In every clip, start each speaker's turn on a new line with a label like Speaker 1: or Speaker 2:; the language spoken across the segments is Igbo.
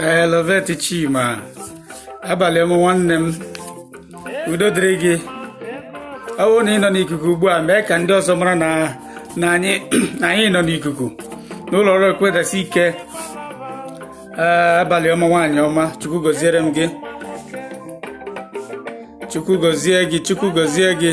Speaker 1: ee Lovet Chima abalị ọma nwanne m udo dịrị gị ọ bụrụ na ị nọ n'ikuku ugbu a mee ka ndị ọzọ mara na na anyị na anyị nọ n'ikuku n'ụlọ ọrụ ekwedasi ike ee abalị ọma nwaanyị ọma chukwu gọziere m gị chukwu gọzie gị chukwu gọzie gị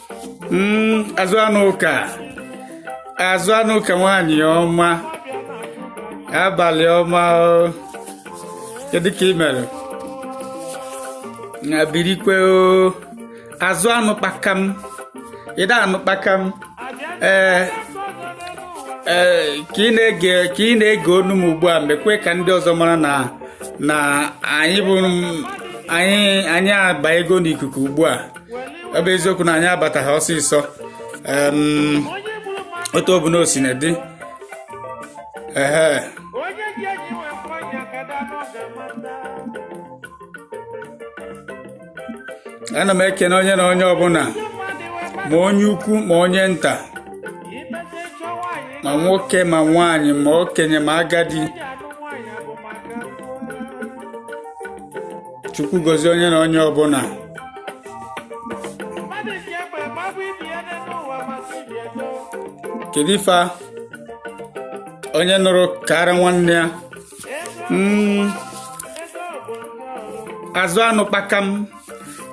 Speaker 1: Mm, azụ anụ ụka azụ anụ ụka nwaanyị ọma abalị ọma o kedu ka ị mere na birikwe o azụ anụ kpakam ịda anụ kpakam ee ee ka ị na-ege ka ị na-ege onu m ugbu a mekwe ka ndị ọzọ mara na na anyị bụ anyị anyị abanyego n'ikuku ugbu a ọ bụ eziokwu na anyị abataghị ọsịsọ otu ọbụna o sina dị ee ana m ekene onye na onye ọbụla ma onye ukwu ma onye nta ma nwoke ma nwaanyị ma okenye ma agadi chukwu gọzie onye na onye ọbụla mmadụ ji egbe gbagbu ibe ya n'elu ụwa maka ihi ego kedu ife a? onye nụrụ kaara nwanne ya Mm, ego bụ nke ọrụ azụ anụ kpakam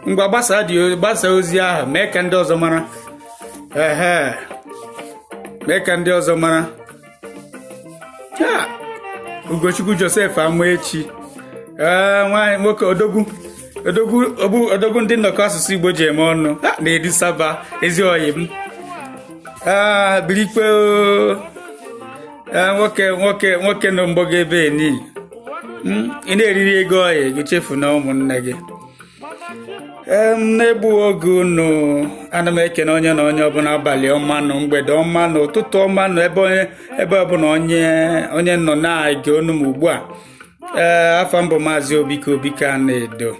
Speaker 1: ngwa gbasa dị gbasa ozi ahụ mee ka ndị ọzọ mara ehe mee ka ndị ọzọ mara Ugochukwu Joseph Amaechi ee nwaanyị nwoke odogwu odogwu ogbu- odogwu ndị nnọkọ asụsụ Igbo ji eme ọnụ ha na-edi saba ezi oyi m ee birikwe oo. ee nwoke nwoke nwoke nọ mgbago ebe eni ị na-eriri ego oyi gị echefuna ụmụnne gị ee m na-egbughị oge unu ana m ekene onye na onye ọbụla abalị ọma nụ mgbede ọma nụ ụtụtụ ọma nụ ebe onye ebe ọbụla onye onye nọ na-ege onu m ugbu a ee afa m bụ maazị obike obike Anaedo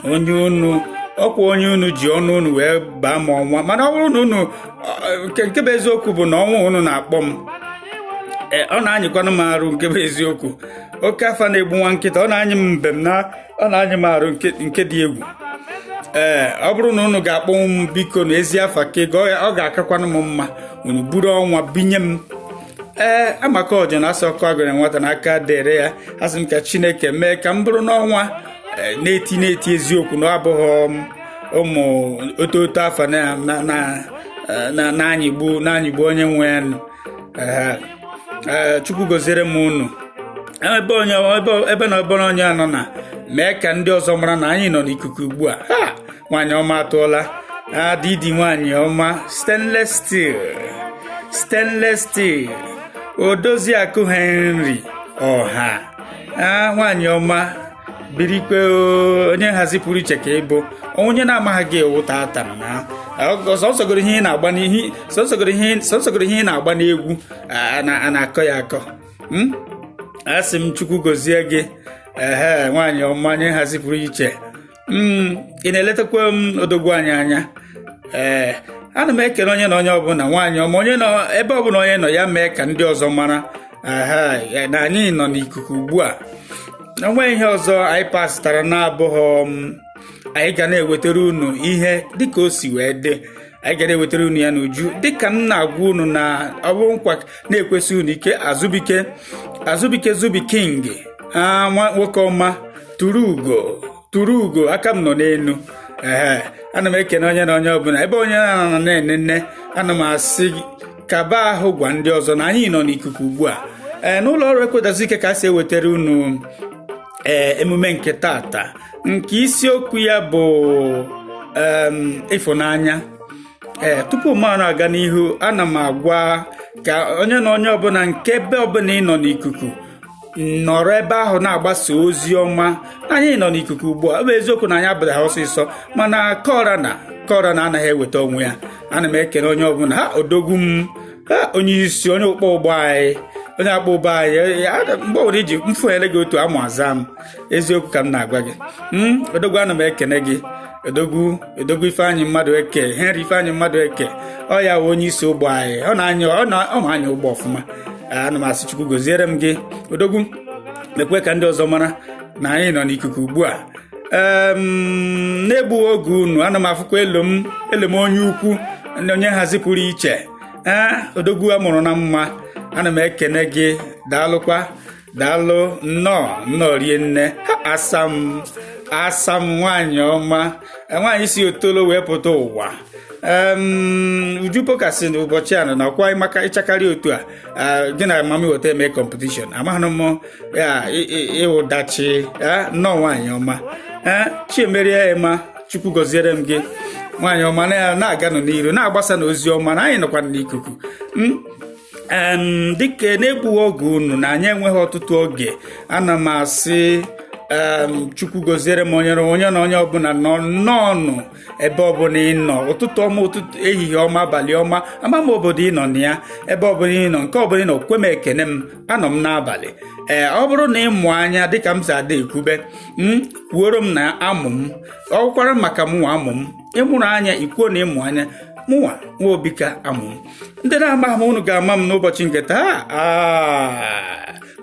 Speaker 1: onye unu ọkwa onye unu ji ọnụ unu wee baa m ọnwa mana ọ bụrụ na unu ọ- nke nke bụ eziokwu bụ na ọnwa unu na-akpọ m ee ọ na-anyịkwanụ m arụ nke bụ eziokwu oke afa na-egbu nwa nkịta ọ na-anyị m mbem na ọ na-anyị m arụ nke dị egwu ee ọ bụrụ na unu ga-akpọnwu m biko na ezi afa ka ego ọ ga-akakwanụ m mma unu buru ọnwa binye m ee amaka ọjọ na asọ ọkụ agụrụ nwata na aka dere ya asị m ka chineke mee ka m bụrụ n'ọnwa e, na-eti na-eti eziokwu na abụghị um, ụmụ oto oto afa na-anyịgbu e, na-anyịgbu onye nwe ya e, chukwu goziere m unu ebe onye ebe na ọbụla onye anọ na mee ka ndị ọzọ mara na anyị nọ n'ikuku ugbu a ha nwaanyị ọma atụọla adịdị nwaanyị ọma stainless steel stainless steel odozi akụ henry ọha nwaanyị ọma birikwe onye nhazi pụrụ iche ka ị bụ onye na-amaghị gị ewu tata na sọsọgoro ihe ị na-agba n'ihi sọsọgoro ihe ị na-agba n'egwu a na-akọ ya akọ m asị m chukwu gozie gị ehe nwaanyị ọma onye nhazi pụrụ iche m ị na-eletakwa m odogwu anyị anya ee ana m ekele onye na onye ọbụla nwaanyị ọma onye nọ ebe ọbụla onye nọ ya mee ka ndị ọzọ mara ehe na anyị nọ n'ikuku ugbu a o nwe ihe ọzọ anyị pasịtara na-abụghị anyị ga na-ewetara unu ihe dịka o si wee dị anyị ga na-ewetara unu ya n'uju dịka m na-agwa unu na ọ bụ nkwa na-ekwesi unu ike azụbike azụbike zubi king nwa nwoke ọma turu ugo turu ugo aka m nọ n'elu ee ana m ekene onye na onye ọbụla ebe onye na-anọ na-enene ana m asị kaba ahụ gwa ndị ọzọ na anyị nọ n'ikuku ugbu a ee n'ụlọ ọrụ ekwedazike ka a si ewetara unu ee emume nke tata nke isiokwu ya bụ ịfụnanya ee tupu m aga n'ihu ana m agwakwa onye na onye ọbụla nke ebe ọbụla ị nọ n'ikuku nọrọ ebe ahụ na-agbasa ozi ọma anyị nọ n'ikuku ugbu a ọ bụ eziokwu na anyị ebidoghị ọsịsọ mana kọra na kọra na anaghị eweta onwe ya ana m ekele onye ọbụla ha odogwu m onye isi onye ọkpọ ụgbọ anyị onye akpọ ụgbọ anyị mgbe ọbụla iji mfu ele gị otu amụ aza m eziokwu ka m na-agwa gị hmm, odogwu ana m ekene gị odogwu odogwu ifeanyị madueke henry ifeanyị madueke ọ ya wụ onye isi ụgbọ anyị ọ na-anya ọ ma anya ụgbọ ọfụma ana m asị chukwu goziere m gị odogwu mekwe ka ndị ọzọ mara na anyị nọ n'ikuku ugbu a na-egbughị oge unu ana m afụkwa elu m elu m onye ukwu onye nhazi pụrụ iche ee odogwu a mụrụ na mma ana m ekene gị daalụkwa daalụ nnọọ nnọọ rinne asa m asa m nwanyị ọma nwaanyị si otolo wee pụta ụwa uju pokasi na ụbọchị a na nakwa maka ịchakarị otu a gị na mama weta eme competition amaghị m ya ịwụdachi nnọọ nwaanyị ọma chiemerie ema chukwu gọziere m gị nwaanyị ọma na-aganụ n'iru na-agbasa na ozi ọma na anyị nọkwa n'ikuku hmm? dịka n'egbughị oge unu na anyị enweghị ọtụtụ oge ana m asị chukwu gọziere m onye na onye ọbụla nọ nnọọnụ ebe ọbụla ị nọ ụtụtụ ọma ụtụtụ ehihie ọma abalị ọma ama m obodo ị nọ na ya ebe ọbụla ị nọ nke ọbụla ị nọ kwe m ekene m anọ m n'abalị ee ọ bụrụ na ị mụ anya dịka m si ada ekwube hmm, kwuoro m na amụ m ọ kwara maka mụnwa amụ m ị mụrụ anya i kwuo na ị mụ anya mụnwa nwa obika amụ m ndị na-ama m unu ga-ama m n'ụbọchị nke taa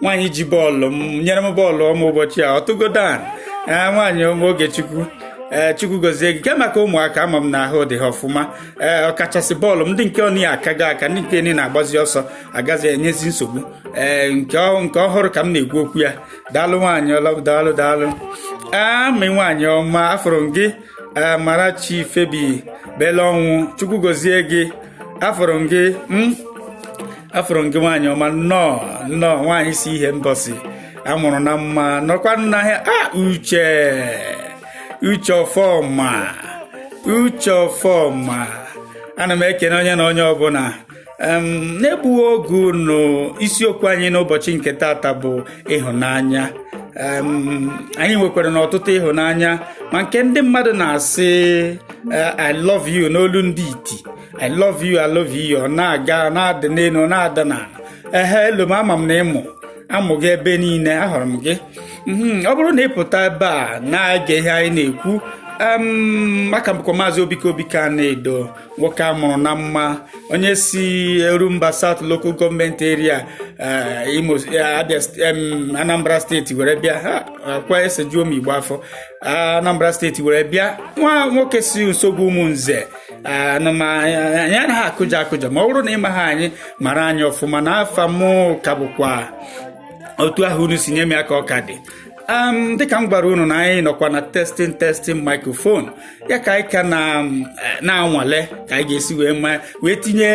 Speaker 1: nwaanyị ji bọọlụ m nyere m bọọlụ ọma ụbọchị a ọtụgodo a ee nwaanyị ọma Ogechukwu ee chukwu gozie gị kee maka ụmụaka ama m na ahụ dị ha ọfụma ee ọkachasị bọọlụ m ndị nke ọ niile akago aka ndị nke niile na-agbazi ọsọ agazi enyezi nsogbu ee nke ọ- nke ọhụrụ ka m na-ekwu okwu ya daalụ nwaanyị ọla daalụ daalụ Amy nwaanyị ọma afụrụ m gị Amarachi Phoebe Belọnwụ chukwu gozie gị afụrụ m gị m afụrụ m gị nwaanyị ọma nnọọ nnọọ nwaanyị si Ihembọsị a mụrụ na mma nọkwa n'ahịa a uche uche ọfọma uche ọfọma ana m ekene onye na onye ọbụla n'egbughị oge unu isiokwu anyị n'ụbọchị nke tata bụ ịhụnanya anyị nwekwaranụ ọtụtụ ịhụnanya ma nke ndị mmadụ na-asị eh, I love you n'olu ndị iti I love you, I love you. Ọ na-aga na-adị n'elu na-ada n'ala. Ehe elu m ama m na ị mụ amụ gị ebe niile ahụrụ m gị. Mhm, Ọ bụrụ na ị pụta ebe a na-ege ihe anyị na-ekwu em, m ka bụkwa maazị Obika Obika Anaedo nwoke a mụrụ na mma onye si Orumba South Local Government Area eh, Imo eh, Abia st- em, Anambra steeti were bịa ha ọ kwa esejuo m igbo afọ Anambra steeti were bịa nwa nwoke si Nsogwu Ụmụnze unu ma na anyị anaghị akụja akụja ma ọ bụrụ na ị maghị anyị mara anyị ọfụma na afa m ka bụkwa otu ahụ unu si nye m ya ka ọ ka dị dịka m gwara unu na anyị nọkwa na testing testing microphone ya ka anyị ka eh, na-anwale ka anyị ga-esi wee ma wee tinye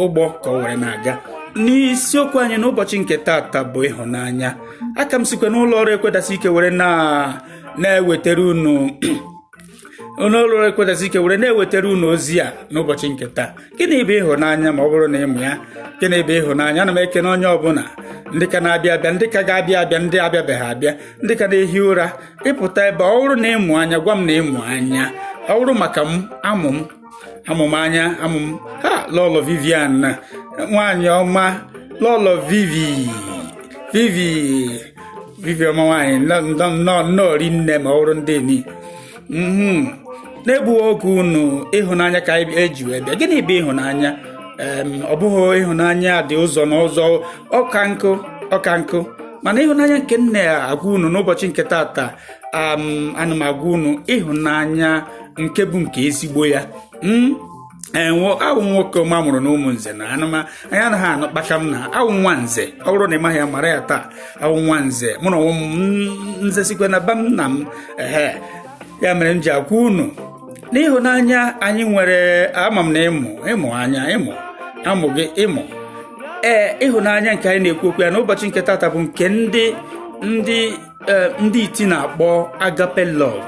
Speaker 1: ụgbọ ka ọ were na-aga n'isiokwu anyị n'ụbọchị nke tata bụ ịhụnanya aka m sikwa n'ụlọ ọrụ Ekwedasike were na-ewetara unu n'ụlọ ọrụ Ekwedasike were na-ewetara unu ozi a n'ụbọchị nke taa gịnị bụ ịhụnanya ma ọ bụrụ na ị mụ anya gịnị bụ ịhụnanya ana m ekene onye ọbụla ndị ka na-abịa abịa ndị ka ga-abịa abịa ndị abịabeghị abịa ndị ka na-ehi ụra ị pụta ebe ọ bụrụ na ị mụ anya gwa m na ị mụ anya ọ bụrụ maka m amụ m amụ m anya amụ m ha lọlọ vivian na nwaanyị ọma lọlọ vivi vivi vivi ọma nwaanyị nnọọ nnọọ rinne ma ọrụ ndị ni mhm. na-egbughị oge unu ịhụnanya ka eji wee bịa gịnị bụ ịhụnanya ọ bụghị ịhụnanya dị ụzọ na ụzọ ọka nkụ ọka nkụ mana ịhụnanya nke m na-agwa unu n'ụbọchị nke tata ana m agwa unu ịhụnanya nke bụ nke ezigbo ya hmm? ee awụ nwoke m a mụrụ na ụmụnze na anụma anyị anaghị anụ kpaka m na awụ nwa nze ọ bụrụ na ị maghị ya mara ya taa awụ nwa nze mụ na onwe m hmm, nze sikwe na ba m nna m ehe ya mere m ji agwa unu na ịhụnanya anyị nwere ama m na ị mụ ị mụ anya ịmụ amụ gị ịmụ ee ịhụnanya nke anyị na-ekwu okwu ya n'ụbọchị nke tata bụ nke ndị ndị ee ndị iti na-akpọ agape love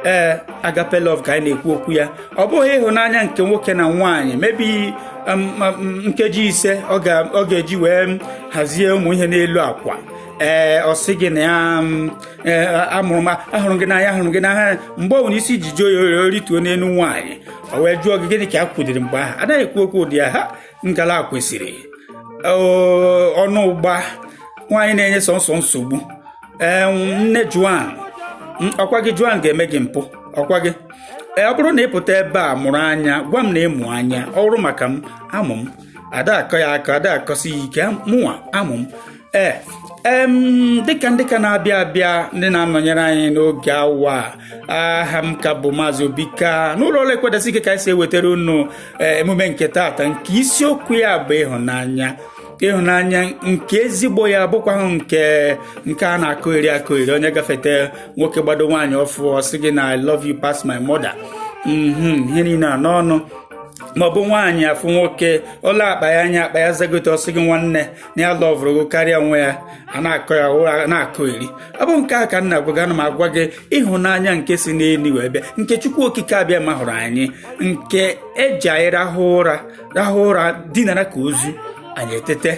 Speaker 1: ee agape love ka anyị na-ekwu okwu ya ọ bụghị ịhụnanya nke nwoke na nwaanyị maybe um, um, nkeji ise ọ ga-eji wee hazie ụmụ ihe n'elu akwa ee ọ sị gị na ya um, e, amụrụ m ahụrụ gị n'anya ahụrụ gị n'ahịa mgbe ọ bụla isi ji jụọ ya o rituo n'elu nwaanyị o wee jụọ gị gịnị ka a kwudiri mgbe ahụ anaghị ekwu okwu ụdị ya ha ngala kwesịrị ọnụ ụgba nwaanyị na-enye sọnsọ nsogbu ee nne joan ọ kwa gị joan ga-eme gị mpụ ọ kwa gị ee ọ bụrụ na ị pụta ebe a mụrụ anya gwa m na ị mụ anya ọ wụrụ maka m amụ m ada akọ ya akọ ada akọsi ya ike mụnwa amụ m ee em dịka ndị ka na-abịa abịa ndị na-anọnyere anyị n'oge awa a, aha m ka bụ maazị obika n'ụlọ ọrụ ekwedasị ike ka anyị si ewetara unu eh, emume nke taata nke isiokwu ya bụ ịhụnanya ịhụnanya nke ezigbo ya bụkwaghị nke nke a na-akọgheri akọgheri onye gafete nwoke gbado nwaanyị ọ fụ ọ sị gị na i love you pass my mother mhm ihe niile a n'ọnụ maọbụ nwaanyị afụ nwoke o lee akpa ya anya akpa ya zagote ọ sị gị nwanne na ya lọvụrụ gị karịa onwe ya a na-akọ ya ụra na-akọgheri ọ bụ nke a ka m na-agwa gị ana m agwa gị ịhụnanya nke si n'elu wee bịa nke chukwu okike abịama hụrụ anyị nke eji anyị rahụ ụra rahụ ụra dinara ka ozu anyị etete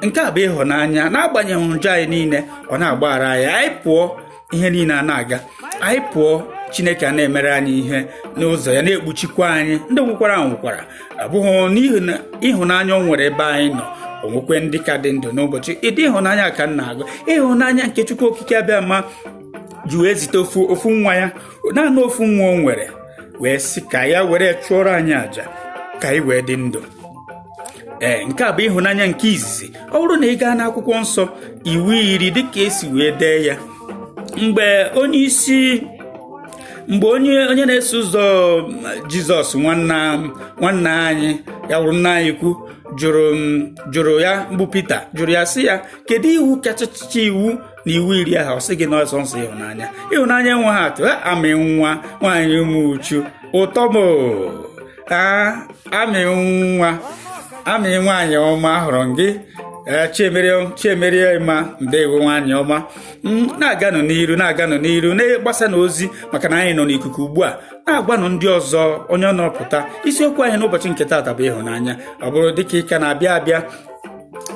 Speaker 1: nke a bụ ịhụnanya n'agbanyeghị njọ anyị niile ọ na-agbaghara anyị anyị pụọ ihe niile ana-aga anyị pụọ chineke ana-emere anyị ihe n'ụzọ ya na-ekpuchikwa anyị ndị nwụkwara anwụkwara abụghị n'ihi na ịhụnanya o nwere ebe anyị nọ o nwekwe ndị ka dị ndụ n'ụbọchị ụdị ịhụnanya ka m na-agwa ịhụnanya nke chukwu okike abịama ji wee zite ofu ofu nwa ya naanị ofu nwa o nwere wee sị ka ya were chụọrọ anyị àjà ka anyị wee dị ndụ ee nke a bụ ịhụnanya nke izizi ọ bụrụ na ị gaa n'akwụkwọ nsọ iwu iri dịka esi wee dee ya mgbe onye isi mgbe onye onye na-eso ụzọ jizọs nwanna anyị ya wụrụ nna anyị ukwu jụrụ ya bụ pita jụrụ ya sị ya kedu iwu kachacha iwu na iwu iri ahụ ọ sị gị na ọ sọsọ ịhụnanya ịhụnanya enweghị atụ ha amị nwa nwaanyị Ụmụchu ụtọ m amị nwa amị nwaanyị ọma ahụrụ m gị Eh, chiemerie ma ndewo nwaanyị ọma mm, na-aganụ n'iru na-aganụ n'iru na-agbasanụ ozi maka na anyị nọ n'ikuku ugbu a na-agwanụ ndị ọzọ onye ọ nọpụta isiokwu anyị n'ụbọchị nke taata bụ ịhụnanya ọ bụrụ dịka ị ka na-abịa abịa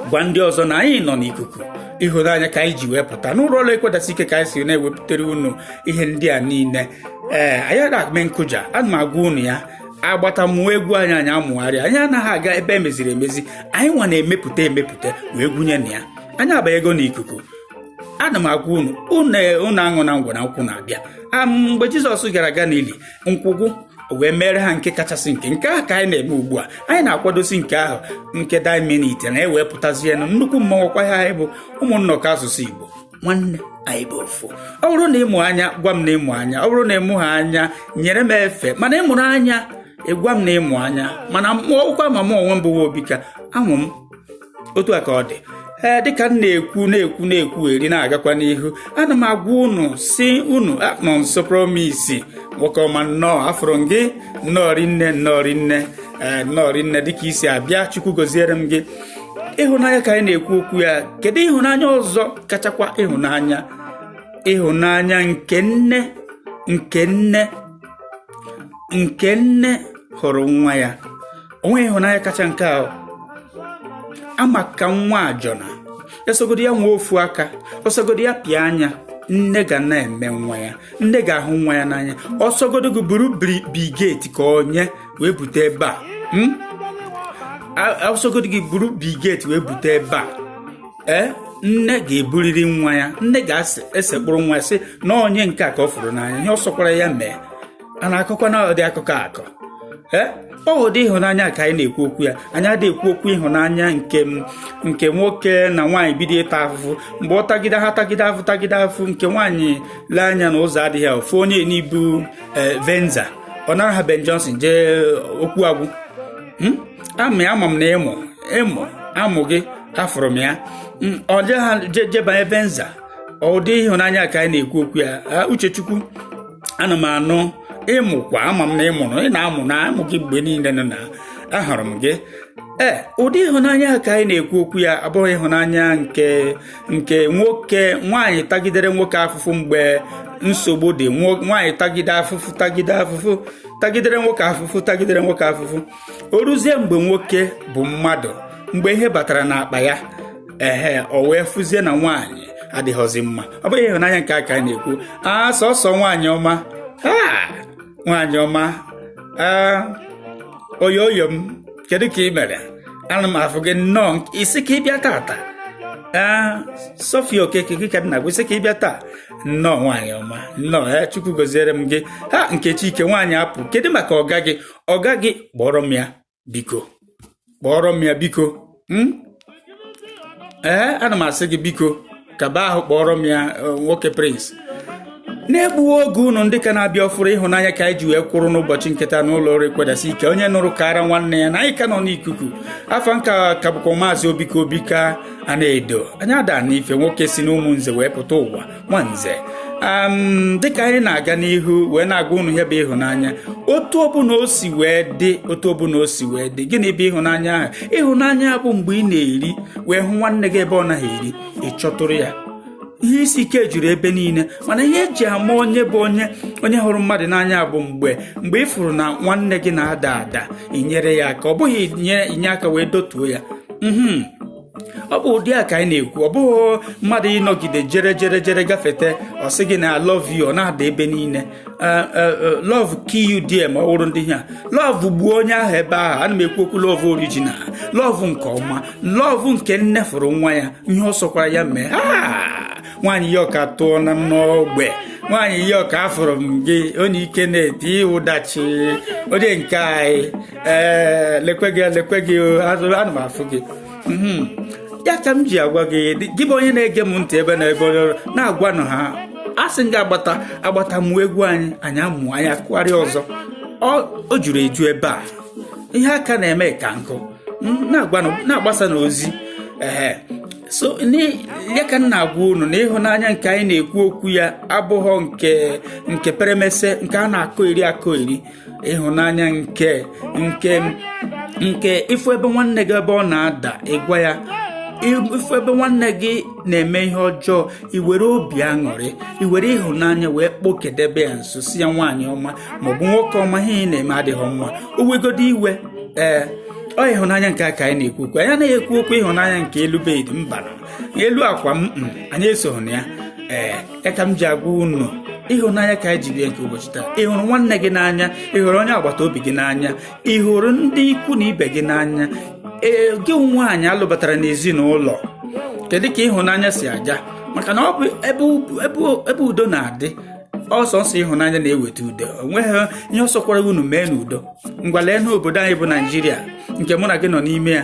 Speaker 1: gwa ndị ọzọ na anyị nọ n'ikuku ịhụnanya ka anyị ji wee pụta n'ụlọ ọrụ ekwedasị ike ka anyị si na-ewepụtara unu ihe ndị a niile ee anyị ada eme nkụja ana m agwa unu ya agbata mụọ egwu anyị anyị amụgharịa anyị anaghị aga ebe emeziri emezi anyị nwa na-emepụta emepụta wee gwunye na ya anyị abanyego n'ikuku ana m agwa unu unu aṅụna ngwọ na nkwụ na-abịa mgbe jizọs gara Galili nkwụ gwụ wee mere ha nke kachasị nke nke ahụ ka anyị na-eme ugbu a anyị na-akwadosi nke ahụ nke dying minute na ewepụtazie na nnukwu mmọnwụ kwa ha anyị bụ ụmụnna ọka asụsụ igbo nwanne anyị bụ ofu ọ bụrụ na ị mụ anya gwa m na ị mụ anya ọ bụrụ na ị mụha anya nyere m efe mana ị mụrụ anya ị gwa m na ị mụ anya mana mụọkwa ma m onwe m bụ nwa Obika amụ m otu a ka ọ dị ee dịka m na-ekwu na-ekwu na-ekwu were na-agakwa n'ihu ana m agwa unu sị unu ah Nọnso Promise nwoke ọma nnọọ afụrụ m gị nnọọ rinne nnọọ rinne ee nnọọ rinne dịka i si abịa chukwu goziere m gị ịhụnanya ka anyị na-ekwu okwu ya kedu ịhụnanya ọzọ kachakwa ịhụnanya ịhụnanya nke nne nke nne nke nne hụrụ nwa ya o nweghị ịhụnanya kacha nke a maka nwa ajọna ọ sọgodi ya nwee ofu aka ọ sọgodi ya pịa anya nne ga na-eme nwa ya nne ga-ahụ nwa ya n'anya ọ sọgodo gị buru Bugatti ka onye wee bute ebe a hmm? ọ sọgodo gị buru Bugatti wee bute ebe a ee nne ga-eburiri nwa ya nne ga-esekpụrụ nwa ya sị na onye nke a ka ọ fụrụ n'anya ihe ọ sọkwara ya mee a na-akọkwa na ụdị akụkọ akọ ee ọ ụdị ịhụnanya ka anyị na-ekwu okwu ya anyị adịghị ekwu okwu ịhụnanya nke nke nwoke na nwaanyị bido ịta afụfụ mgbe ọ tagide ha tagide afụ tagide afụ nke nwaanyị lee anya na ụzọ adịghị ọ fụ onye nị bu eh, venza ọ nara ha Ben Johnson jee eh, okwu agwụ hmm? ama ama m na ị mụ ị mụ amụ gị afụrụ m ya hmm, ọ jee ha jebanye venza ụdị ịhụnanya ka anyị na-ekwu okwu ya ah, Uchechukwu ana m anụ ịmụkwa ama m na ịmụrụ ị na-amụ na amụ gị mgbe niile nọ na ahụrụ m gị ee ụdị ịhụnanya a ka anyị na-ekwu okwu ya abụghọ ịhụnanya nke nke nwoke nwaanyị tagidere nwoke afụfụ mgbe nsogbu dị nwaanyị tagide afụfụ tagide afụfụ tagidere nwoke afụfụ tagidere nwoke afụfụ o ruzie mgbe nwoke bụ mmadụ mgbe ihe batara n'akpa ya ehe o wee fụzie na nwaanyị adịghọzi mma ọ bụghị ịhụnanya nke a ka anyị na-ekwu a sọsọ nwaanyị ọma nwaanyị ọma oyoyo m kedu ka ị mere ana m afụ gị nnọọ ị sị ka ị bịa tata ee sofia okeke gị ka nna gị ị sị ka ị bịa taa nnọọ nwaanyị ọma nnọọ ya chukwu goziere m gị ha nkechi ike nwaanyị apụ kedu maka ọga gị ọga gị kpọrọ m ya biko kpọrọ m ya biko hmm? ee ana m asị gị biko kaba ahụ kpọrọ m ya eh, nwoke prince na-egbughị oge unu ndị ka na-abịa ọfụrụ ịhụnanya ka anyị ji wee kwụrụ n'ụbọchị nke taa n'ụlọ ọrụ ekwedasị ike onye nụrụ kaara nwanne ya na anyị ka nọ n'ikuku afa m ka bụkwa maazị obika obika a na-edo anya ada na ife nwoke si n'ụmụnze wee pụta ụwa nwanze dịka anyị na-aga n'ihu wee na-agwa unu ihe bụ ịhụnanya otu ọbụla o si wee dị otu ọbụla o si wee dị gịnị bụ ịhụnanya ahụ ịhụnanya bụ mgbe ị na-eri wee hụ nwanne gị ebe ọ naghị eri ị chọtụrụ ya ihe isi ike juru ebe niile mana ihe eji ama onye bụ onye onye hụrụ mmadụ n'anya bụ mgbe mgbe ị fụrụ na nwanne gị na-ada ada i nyere ya aka ọ bụghị inye aka wee dotuo ya mhm. ọ bụ ụdị a ka anyị na-ekwu ọ bụghị mmadụ ịnọgide jere jere jere gafete ọ sị gị na love you ọ na-ada ebe niile eh, eh, eh, love kill you there ma ọ wụrụ ndị ha love gbuo onye ahụ ebe ahụ ana m ekwu okwu love original love nke ọma love nke nne fụrụ nwa ya ihe ọ sọkwara ya mee ah! nwaanyị ya ọka tụọ na n'ogbe nwaanyị ya ọka afụrụ m gị onye ike na-eti ụdachi onye nke anyị ee lekwe gị lekwe gị ana m afụ gị mhm. ya ka m ji agwa gị gị bụ onye na-ege m ntị ebe na ebe onye ọrụ na-agwanụ ha a sị gị agbata agbata mụọ egwu anyị anyị amụ anyị akụgharịa ọzọ o juru eju ebe a ihe a ka na-eme ka nkụ na-agbasa n'ozi ee so ya ka m na-agwa unu na ịhụnanya nke anyị na-ekwu okwu ya abụghọ nke nke peremese nke a na-akọ eri akọ eri ịhụnanya nke nke nke ịfụ ebe nwanne gị ebe ọ na-ada ịgwa ya ịfụ ebe nwanne gị na-eme ihe ọjọọ iwere obi aṅụrị iwere ịhụnanya wee kpokedebe ya nso sị ya nwaanyị ọma maọbụ nwoke ọma ihe ị na-eme adịghọ mma o wegodo iwe ee ọ ịhụnanya nke a ka anyị na-ekwu okwu anyị anaghị ekwu okwu ịhụnanya nke elu bed mba elu akwa m mm, anyị esoghị na ya ee ya ka m ji agwa unu ịhụnanya ka anyị ji bịa nke ụbọchị taa ị hụrụ nwanne gị n'anya ị hụrụ onye agbata obi gị n'anya ị hụrụ ndị ikwu na ibe gị n'anya ee gị nwaanyị alụbatara n'ezinụlọ kedu ka ịhụnanya si aga maka na ọ bụ ebe udo na-adị ọ sọsọ ịhụnanya na-eweta udo o nweghị ihe ọ sọkwara unu mee n'udo ngwa lee n'obodo anyị bụ naijiria nke mụ na gị nọ n'ime ya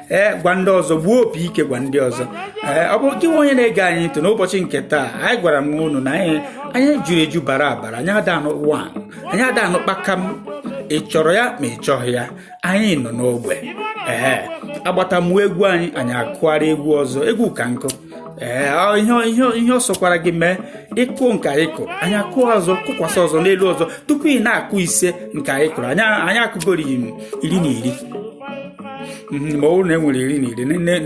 Speaker 1: ee gwa ndị ọzọ gbuo opi ike gwa ndị ọzọ ee ọ bụrụ gịnwa onye na-ege anyị ntị n'ụbọchị nke taa anyị gwara m unu na anyị anyị juru eju bara abara anyị ada anụ ụwa anyị ada anụ kpakam ị chọrọ ya ma ị chọghị ya anyị nọ n'ogbe ee a gbata mụọ egwu anyị anyị akụgharịa egwu ọzọ egwu ka nkụ ee ihe ọ sọkwara gị mee ị kụọ nke anyị kụrụ anyị akụọ ọzọ kụkwasị ọzọ n'elu ọzọ tupu ị na-akụ ise nke anyị kụrụ anyị akụgoro iri na iri mhm, ma ọ bụrụ na e nwere iri na iri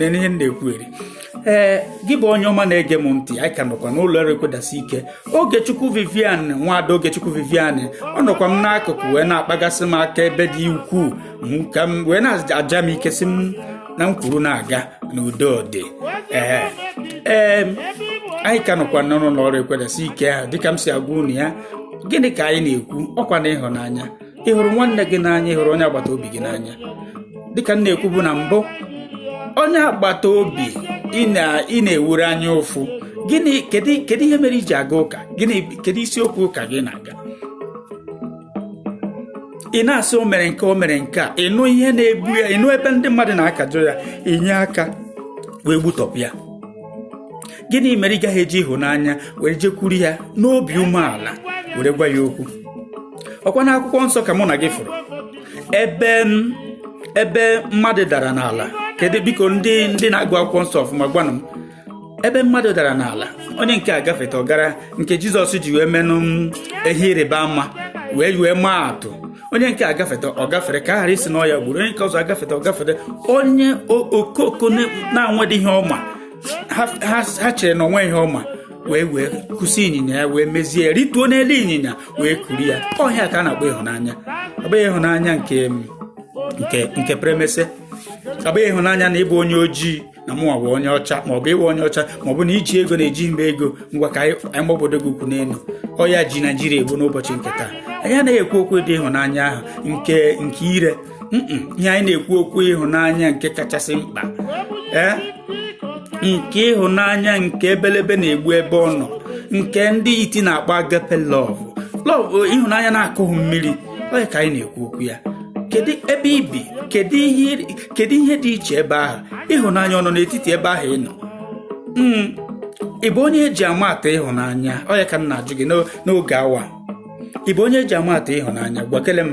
Speaker 1: n'ihe m na-ekwu eri ee gị bụ onye ọma na-ege m ntị anyị ka nọkwa n'ụlọ ọrụ ekwedasị ike Ogechukwu Vivian nwaada Ogechukwu Vivian ọ nọkwa m n'akụkụ wee na-akpagasị m aka ebe dị ukwuu ka m wee na-aja m ike sị m na m kwuru na-aga na udo dị ee ee anyị ka nọkwa n'ụlọ ọrụ ekwedasị ike ahụ dịka m si agwa unu ya gịnị ka anyị na-ekwu ọ kwa na ịhụnanya ị hụrụ nwanne gị n'anya ị hụrụ onye agbata obi gị n'anya dịka m na-ekwubu na mbụ onye agbata obi ị na-ewuru anya ụfụ gịnị kedu ihe mere i ji aga ụka gịnị kedu isiokwu ụka gị na-aga ị na-asị o mere nke o mere nke a ị nụ ihe na-egbu ya ị nụ ebe ndị mmadụ na-akajọ ya i nye aka wee gbutọpụ ya gịnị mere ị gaghị eji ịhụnanya were jekwuru ya n'obi umeala were gwa ya okwu ọ kwa na akwụkwọ nsọ ka mụ na gị fụrụ ebe ebe mmadụ dara n'ala kedu biko ndị ndị na-agụ akwụkwọ nsọ ọfụma gwanụ m ebe mmadụ dara n'ala onye nke a gafeta ọ gara nke jizọs ji wee menụ ihe ịrịba ama wee wee maa atụ onye nke a gafeta ọ gafere ka a ghara ịsị na ọ ya gburu onye nke ọzọ agafeta ọ gafere onye okoko na-anwedị ihe ọma ha chere na o nwe ihe ọma wee wee kwụsị ịnyịnya ya wee mezie ya rituo n'elu ịnyịnya wee kuru ya ọ ihe a ka a na-akpọ ịhụnanya ọ bụghị ịhụnanya nke nke nke premese ọ bụghị ịhụnanya na ị bụ onye ojii na mụnwa bụ onye ọcha ma ọ bụ ị bụ onye ọcha ma ọ bụ na i ji ego na-eji mba ego ngwa ka anyị gbabodo gị ukwu n'elu ọya ji naijiria egbu n'ụbọchị nke taa anyị anaghị ekwu okwu dị ịhụnanya ahụ nke nke ire ihe anyị na-ekwu okwu ịhụnanya nke kachasị mkpa ee nke ịhụnanya nke ebelebe na-egbu ebe ọ nọ nke ndị iti na-akpọ agape love love ịhụnanya na-akụghị mmiri ọ ya ka anyị na-ekwu okwu ya kedu ebe i bi kedu ihe kedu ihe dị iche ebe ahụ ịhụnanya ọ nọ n'etiti ebe ahụ ị nọ hmm, ị bụ onye eji ama atụ ịhụnanya ọ ya ka m na-ajụ gị n'oge awa ị bụ onye eji ama atụ ịhụnanya gwakele m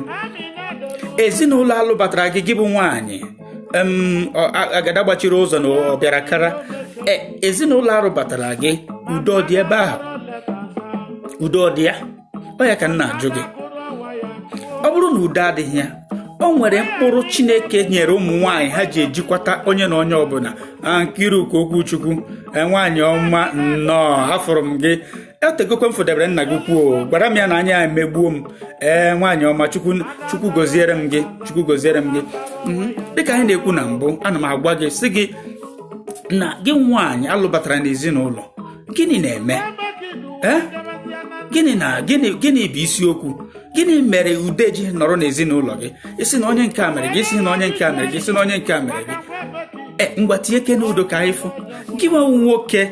Speaker 1: ezinụlọ alụbatara gị gị bụ nwaanyị agada gbachiri ụzọ na ọ bịara kara e, ezinụlọ arụbatara gị udo dị ebe ahụ udo dị ya ọ ya ka m na-ajụ gị ọ bụrụ na udo adịghị ya o nwere mkpụrụ chineke nyere ụmụ nwaanyị ha ji ejikwata onye na onye ọbụla Nkiruka Okwuchukwu e, nwaanyị ọma nnọọ afụrụ m gị o tegokwa m fụdebere nna gị kwuo gwara m ya na anya emegbuo m ee nwaanyị ọma chukwu goziere m gị chukwu goziere m gị mhm. dịka anyị na-ekwu na mbụ ana m agwa gị sị gị na gị nwaanyị alụbatara n'ezinụlọ gịnị na-eme eh? gịnị na gịnị gịnị bụ isiokwu gịnị mere ude ji nọrọ n'ezinụlọ gị isi na onye nke a mere gị isi na onye nke a mere gị isi na onye nke a mere gị e ngwa tinye ke n'udo ka anyị fụ gị nwewu nwoke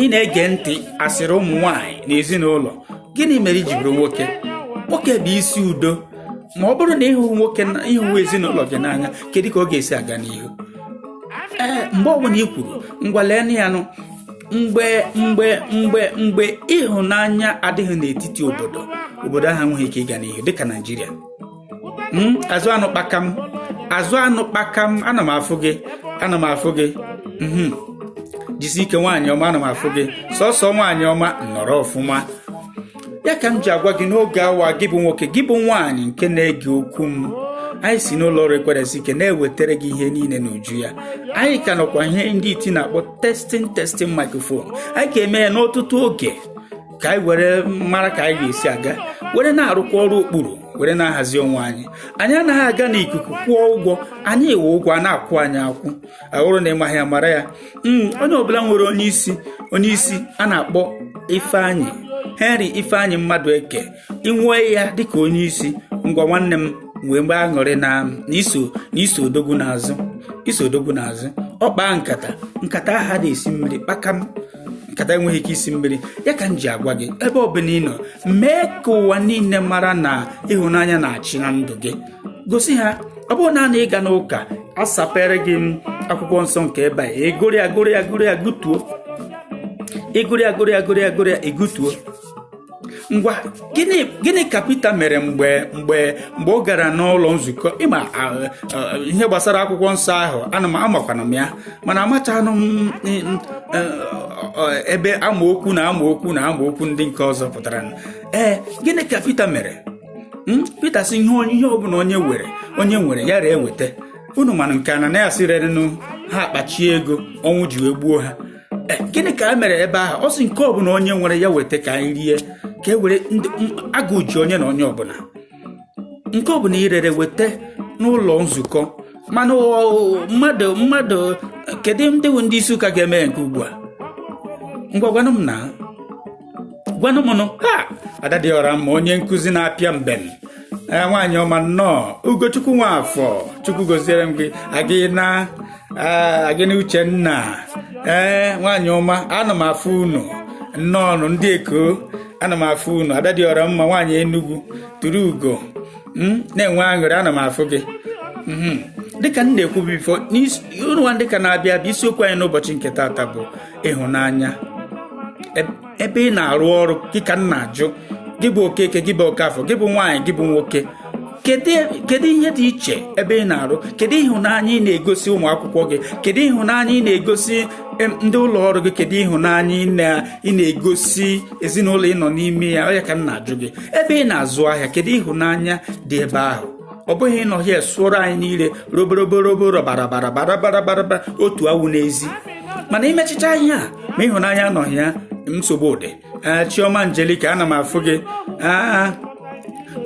Speaker 1: ị na-ege ntị asịrị ụmụ nwaanyị n'ezinụlọ gịnị mere iji bụrụ nwoke nwoke bụ isi udo ma ọ bụrụ na ịhụ nwoke ịhụ ezinụlọ gị n'anya kedu ka ọ ga-esi aga n'ihu ee eh, mgbe ọbụla i kwuru ngwa lee ya nụ mgbe mgbe mgbe mgbe ịhụnanya adịghị n'etiti obodo obodo ahụ enweghị ike ịga n'ihu dịka naijiria hmm, azụ anụ kpakam azụ anụ kpakam ana m afụ gị ana m afụ gị hmm, jisi ike nwaanyị ọma ana m afụ gị sọsọ nwaanyị ọma nọrọ ọfụma ya ka m ji agwa gị n'oge awa gị bụ nwoke gị bụ nwaanyị nke na-ege okwu m anyị si n'ụlọ ọrụ ekweresi ike na-ewetara gị ihe niile n'uju ya anyị ka nọkwa ihe ndị IT na-akpọ testing testing microphone anyị ka eme ya n'ọtụtụ oge ka anyị were mara ka anyị ga-esi aga were na-arụkwa ọrụ okpuru were na-ahazi onwe anyị anyị anaghị aga n'ikuku kwụọ ụgwọ anyị ewe ụgwọ a na-akwụ anyị akwụ ọ bụrụ na ị maghị ya mara ya hmm, onye ọbụla nwere onye isi onye isi a na-akpọ ifeanyị henry ifeanyị Mmadueke i nwee ya dịka onye isi ngwa nwanne m nwebe aṅụrị na i so na i so odogwu n'azụ i so odogwu n'azụ ọ kpaa nkata nkata ahụ ada-esi mmiri kpakam nkata enweghị ike isi mmiri ya ka m ji agwa gị ebe ọbụla ị nọ mee ka ụwa niile mara na ịhụnanya na-achị na ndụ gị gosi ha ọ bụrụ na na ị gaa n'ụka asapere gị akwụkwọ nsọ nke ebe a egori agori agori agụtuo egori agori agori agori egutuo ngwa gịnị gịnị ka Pita mere mgbe mgbe mgbe ọ gara n'ụlọ nzukọ ị ma ihe gbasara akwụkwọ nsọ ahụ ana m amakwana m ya mana amachanụ m e, ebe amaokwu na amaokwu na amaokwu ndị nke ọzọ pụtara ee gịnị ka Pita mere hmm? Pita sị ihe onye ihe ọbụla onye were onye nwere ya ree weta unu mana nke Ananias rerenụ ha akpachie ego ọnwụ ji wee gbuo ha eh, gịnị ka a mere ebe ahụ ọ sị nke ọbụla onye nwere ya weta ka anyị rie ka e were agụụ ji onye na onye ọbụla nke ọbụla irere weta n'ụlọ nzukọ mana mmadụ mmadụ kedu ndị bụ ndị isi ụka ga-eme nke ugbu a ngwa gwanụ m na gwanụ m nụ ha ada dị ọra mma onye nkụzi na-apịa mbem ee nwaanyị ọma nnọọ ugochukwu nwafọ chukwu goziere m gị agịna ee, agịna uchenna ee nwaanyị ọma ana m afụ unu nnọọ nụ ndị eko ana m afụ unu ada dị ọra mma nwaanyị enugwu turu ugo na-enwe aṅụrị ana m afụ gị Mhm. dịka m na-ekwu before n'isi- unu nwa ndị ka na-abịa abịa isiokwu anyị n'ụbọchị nke taata bụ ịhụnanya ebe ị na-arụ ọrụ gị ka m na-ajụ gị bụ okeke gị bụ okafọ gị bụ nwaanyị gị bụ nwoke kedu ihe dị iche ebe ị na-arụ kedu ịhụnanya ị na-egosi ụmụ akwụkwọ gị kedu ịhụnanya ị na-egosi ndị ụlọ ọrụ gị kedu ịhụnanya ị na-egosi ezinụlọ ị nọ n'ime ya ọ ya ka m na-ajụ gị ebe ị na-azụ ahịa kedu ịhụnanya dị ebe ahụ ọ bụghị ịnọ here sụọrọ anyị niile roboroborobo rọbarabarabarabarabara otu awụ n'ezi mana imechicha ihe a ma ịhụnanya anọghị ya nsogbu dị ee chioma angelika ana m afụ gị aa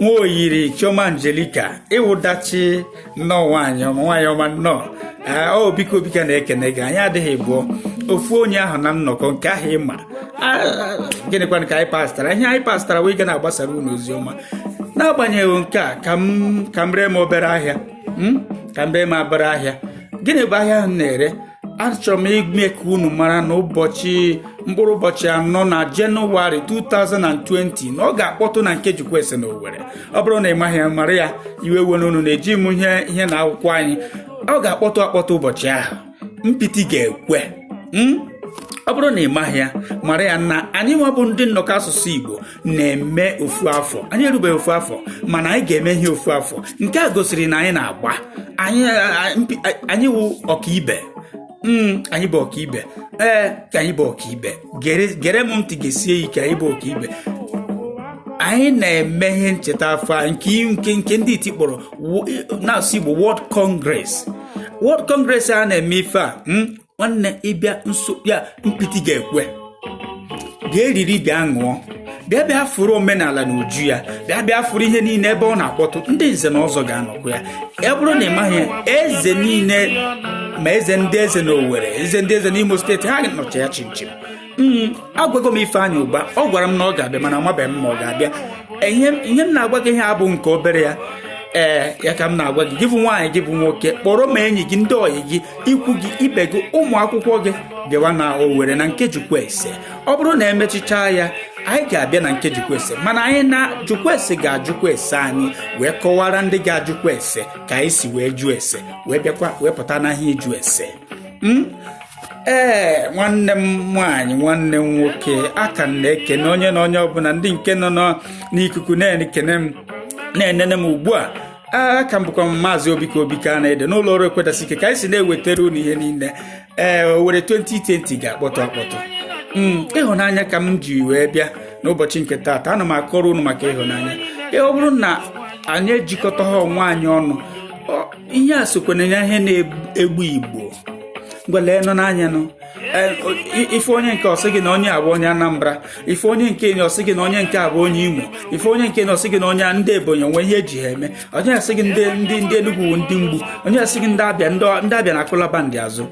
Speaker 1: nwa oyiri chioma angelika ịwụdachi nnọọ nwaanyị ọma nwaanyị ọma nnọọ ee obika obika na-ekene gị anyị adịghị abụọ ofu onye ahụ na nnọkọ nke ahụ ị ma gịnịkwanụ ka anyị pastara ihe anyị pastara wee ga na-agbasara unu ozi ọma n'agbanyeghị nke a ka m ka m ree m obere ahịa m ka m ree m obere ahịa gịnị bụ ahịa ahụ m na-ere achọrọ m ime ka unu mara na ụbọchị mkpụrụ ụbọchị anọ na jenụwarị 2020 na ọ ga-akpọtụ na nke Jukwese na Owerri ọ bụrụ na ị maghị ya mara ya iwe were unu na-eji m ihe ihe na akwụkwọ anyị ọ ga-akpọtụ akpọtụ ụbọchị ahụ mpịtị ga-ekwe ọ bụrụ na ị maghị ya mara ya na anyị nwa bụ ndị nnọkọ asụsụ Igbo na-eme ofu afọ anyị erubeghị ofu afọ mana anyị ga-eme ihe ofu afọ nke a gosiri na anyị na-agba anyị wụ ọkaibe hmm, anyị bụ ọkaibe ee ka anyị bụ ọkaibe gere m ntị gesie ike anyị bụ ọkaibe anyị na-eme ihe ncheta afọ nke nke nke ndị iti kpọrọ na-asụ Igbo World Congress World Congress a na-eme ife a hmm, nwanne ịbịa nso ya mpịtị ga-ekwe bịa eriri bịa ṅụọ bịa bịa fụrụ omenala n'uju ya bịa bịa fụrụ ihe niile ebe ọ na-akpọtụ ndị nze na ọzọ ga-anọkwa ya ya bụrụ na ị maghị eze niile ma eze ndị eze na Owerri eze ndị eze n'Imo steeti ha nọcha ya chimchim Mm, agwago m Ifeanyị Ụba ọ gwara m na ọ ga-abịa mana amabeghị m ma ọ ga-abịa ihe m na-agwa gị ihe a bụ nke obere ya ee ya ka m na-agwa gị gị bụ nwaanyị gị bụ nwoke kpọrọ ma enyi gị ndị ọyị gị ikwu gị ibe gị ụmụ akwụkwọ gị bịawa na Owerri na nke Jukwuese ọ bụrụ na emechichaa ya anyị ga-abịa na nke Jukwuese mana anyị na Jukwuese ga-ajụkwa ese anyị wee kọwara ndị ga-ajụkwa ese ka anyị si wee jụọ ese wee bịakwa wee pụta n'ahịa ịjụ ese hmm? ee nwanne m nwaanyị nwanne m nwoke aka m na-ekene onye na onye ọbụla ndị nke nọ n'ikuku na-ekene m na-enene m ugbu a aka m bụkwa maazị obika obika na-ede n'ụlọ ọrụ ekwedasị ike ka anyị si na-ewetara unu ihe niile ee owere 2020 ga-akpọtụ akpọtụ hmm, ịhụnanya ka m ji wee bịa n'ụbọchị nke taata ana m akọrọ unu maka ịhụnanya ọ bụrụ na anyị ejikọtaha onwe anyị ọnụ ihe a sokwa na ihe na-egbu igbo ngwa leenụ n'anya nụ ife onye nke ọ sị gị na onye a bụ onye anambra ife onye nke enyi ọ sị gị na onye nke a bụ onye imo ife onye nke enyi ọ sị gị na onye ndị ebonyi o nwe ihe eji ha eme onye asị gị ndị ndị ndị enugwu ndị mgbu onye asị gị ndị abịa ndị abịa na akụlaba ndị azụ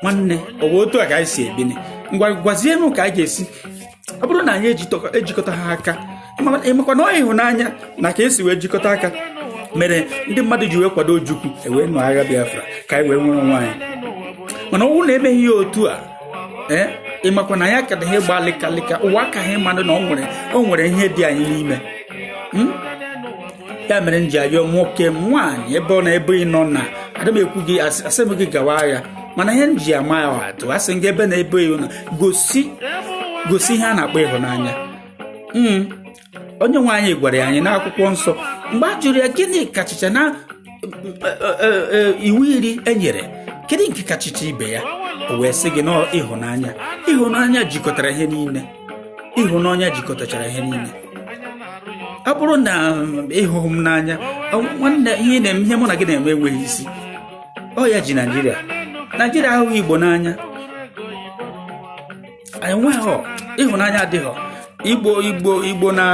Speaker 1: nwanne ọ bụ otu a ka anyị si ebini ngwa gwazie m ka a ga-esi ọ bụrụ na anyị ejikọtaha aka ịmakwa na ọ ịhụnanya na ka esi wee jikọta aka mere ndị mmadụ ji wee kwado Ojukwu e wee nụ agha Biafra ka anyị wee nwere onwe anyị mana ọ wụ na emeghị ya otu a ee eh, ịmakwa na anyị ka-adị ihe gba lịkalịka ụwa akaha ịmanụ na o nwere ihe dị anyị n'ime hmm? ya mere m ji ayọ nwoke nwaanyị ebe ọ na ebe ị nọ na adị m ekwu gị asị m gị gawa agha mana ihe m ji ama ya atụ a sị gị ebe na ebe ị nọ gosi gosi ihe a na-akpọ ịhụnanya hmm. onye nwe anyị gwara anyị n'akwụkwọ nsọ mgbe a jụrụ ya gịnị kachicha na e, e, e, iwu iri e nyere kedu nke kachicha ibe ya o wee sị gị na ọ ịhụnanya ịhụnanya jikọtara ihe niile ịhụnanya jikọtachara ihe niile ọ bụrụ na ịhụghị m n'anya nwanne ihe na-eme ihe mụ na gị na-eme enweghị isi ọ ya ji naijiria naijiria ahụghị igbo n'anya enweghị ịhụnanya adịghị igbo igbo igbo na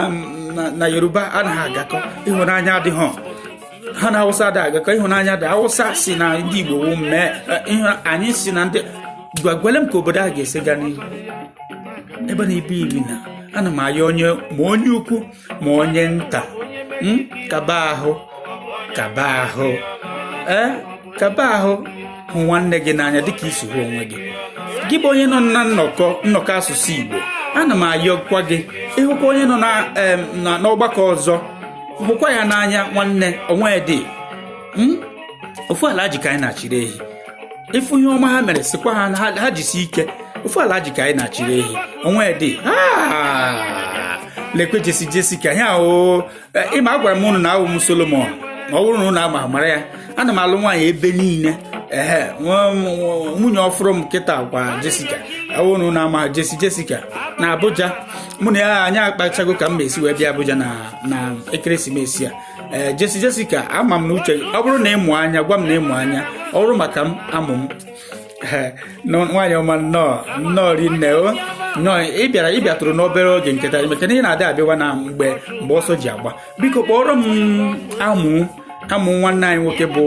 Speaker 1: na yoruba anaghị agakọ ịhụnanya adịghị ha na awụsa adịghị agakọ ịhụnanya adịghị awụsa sị na ndị igbo wụ mee anyị sị na ndị ngwa gwale m ka obodo a ga-esi gaa n'ihu ebe na ibe iri na ana m ayọ onye ma onye ukwu ma onye nta hmm? kaba ahụ kaba ahụ ee eh? kaba ahụ hụ nwanne gị n'anya dịka i si hụ onwe gị gị bụ onye nọ na nnọkọ nnọkọ asụsụ Igbo ana m ayọkwa gị ị hụkwa onye nọ n'ọgbakọ ọzọ hụkwa ya n'anya nwanne o nwedị hmm? ofu Alhaji ka anyị na-achịrị ehi ịfụ ihe ọma ha mere sikwa ha ha jisi ike ofu Alhaji ka anyị na-achịrị ehi onwe dị lekwe Jessy Jessica ya o e, ịma agwara m unu na awụ m solomon ma ọ bụrụ na unu ama mara ya ana m alụ nwaanyị ebe niile ehe nwunye ọfụrụ m kịta kwa Jessica awụrụ na ama Jessy Jessica na abuja mụ na ya anyị akpachago ka m ma esi wee bịa abuja na ekeresimesi a ee eh, Jessy Jessica ama m na uche ọ bụrụ na ị mụ anya gwa m na ị mụ anya ọ bụrụ maka m amụ m eh, nwaanyị ọma nnọọ nnọọ rinne o nnọọ ị bịara ị bịatụrụ n'obere oge nke taa maka na ị na-adị abịawa na mgbe mgbe ọsọ ji agba biko kpọọrọ m amụ amụ nwanne anyị nwoke bụ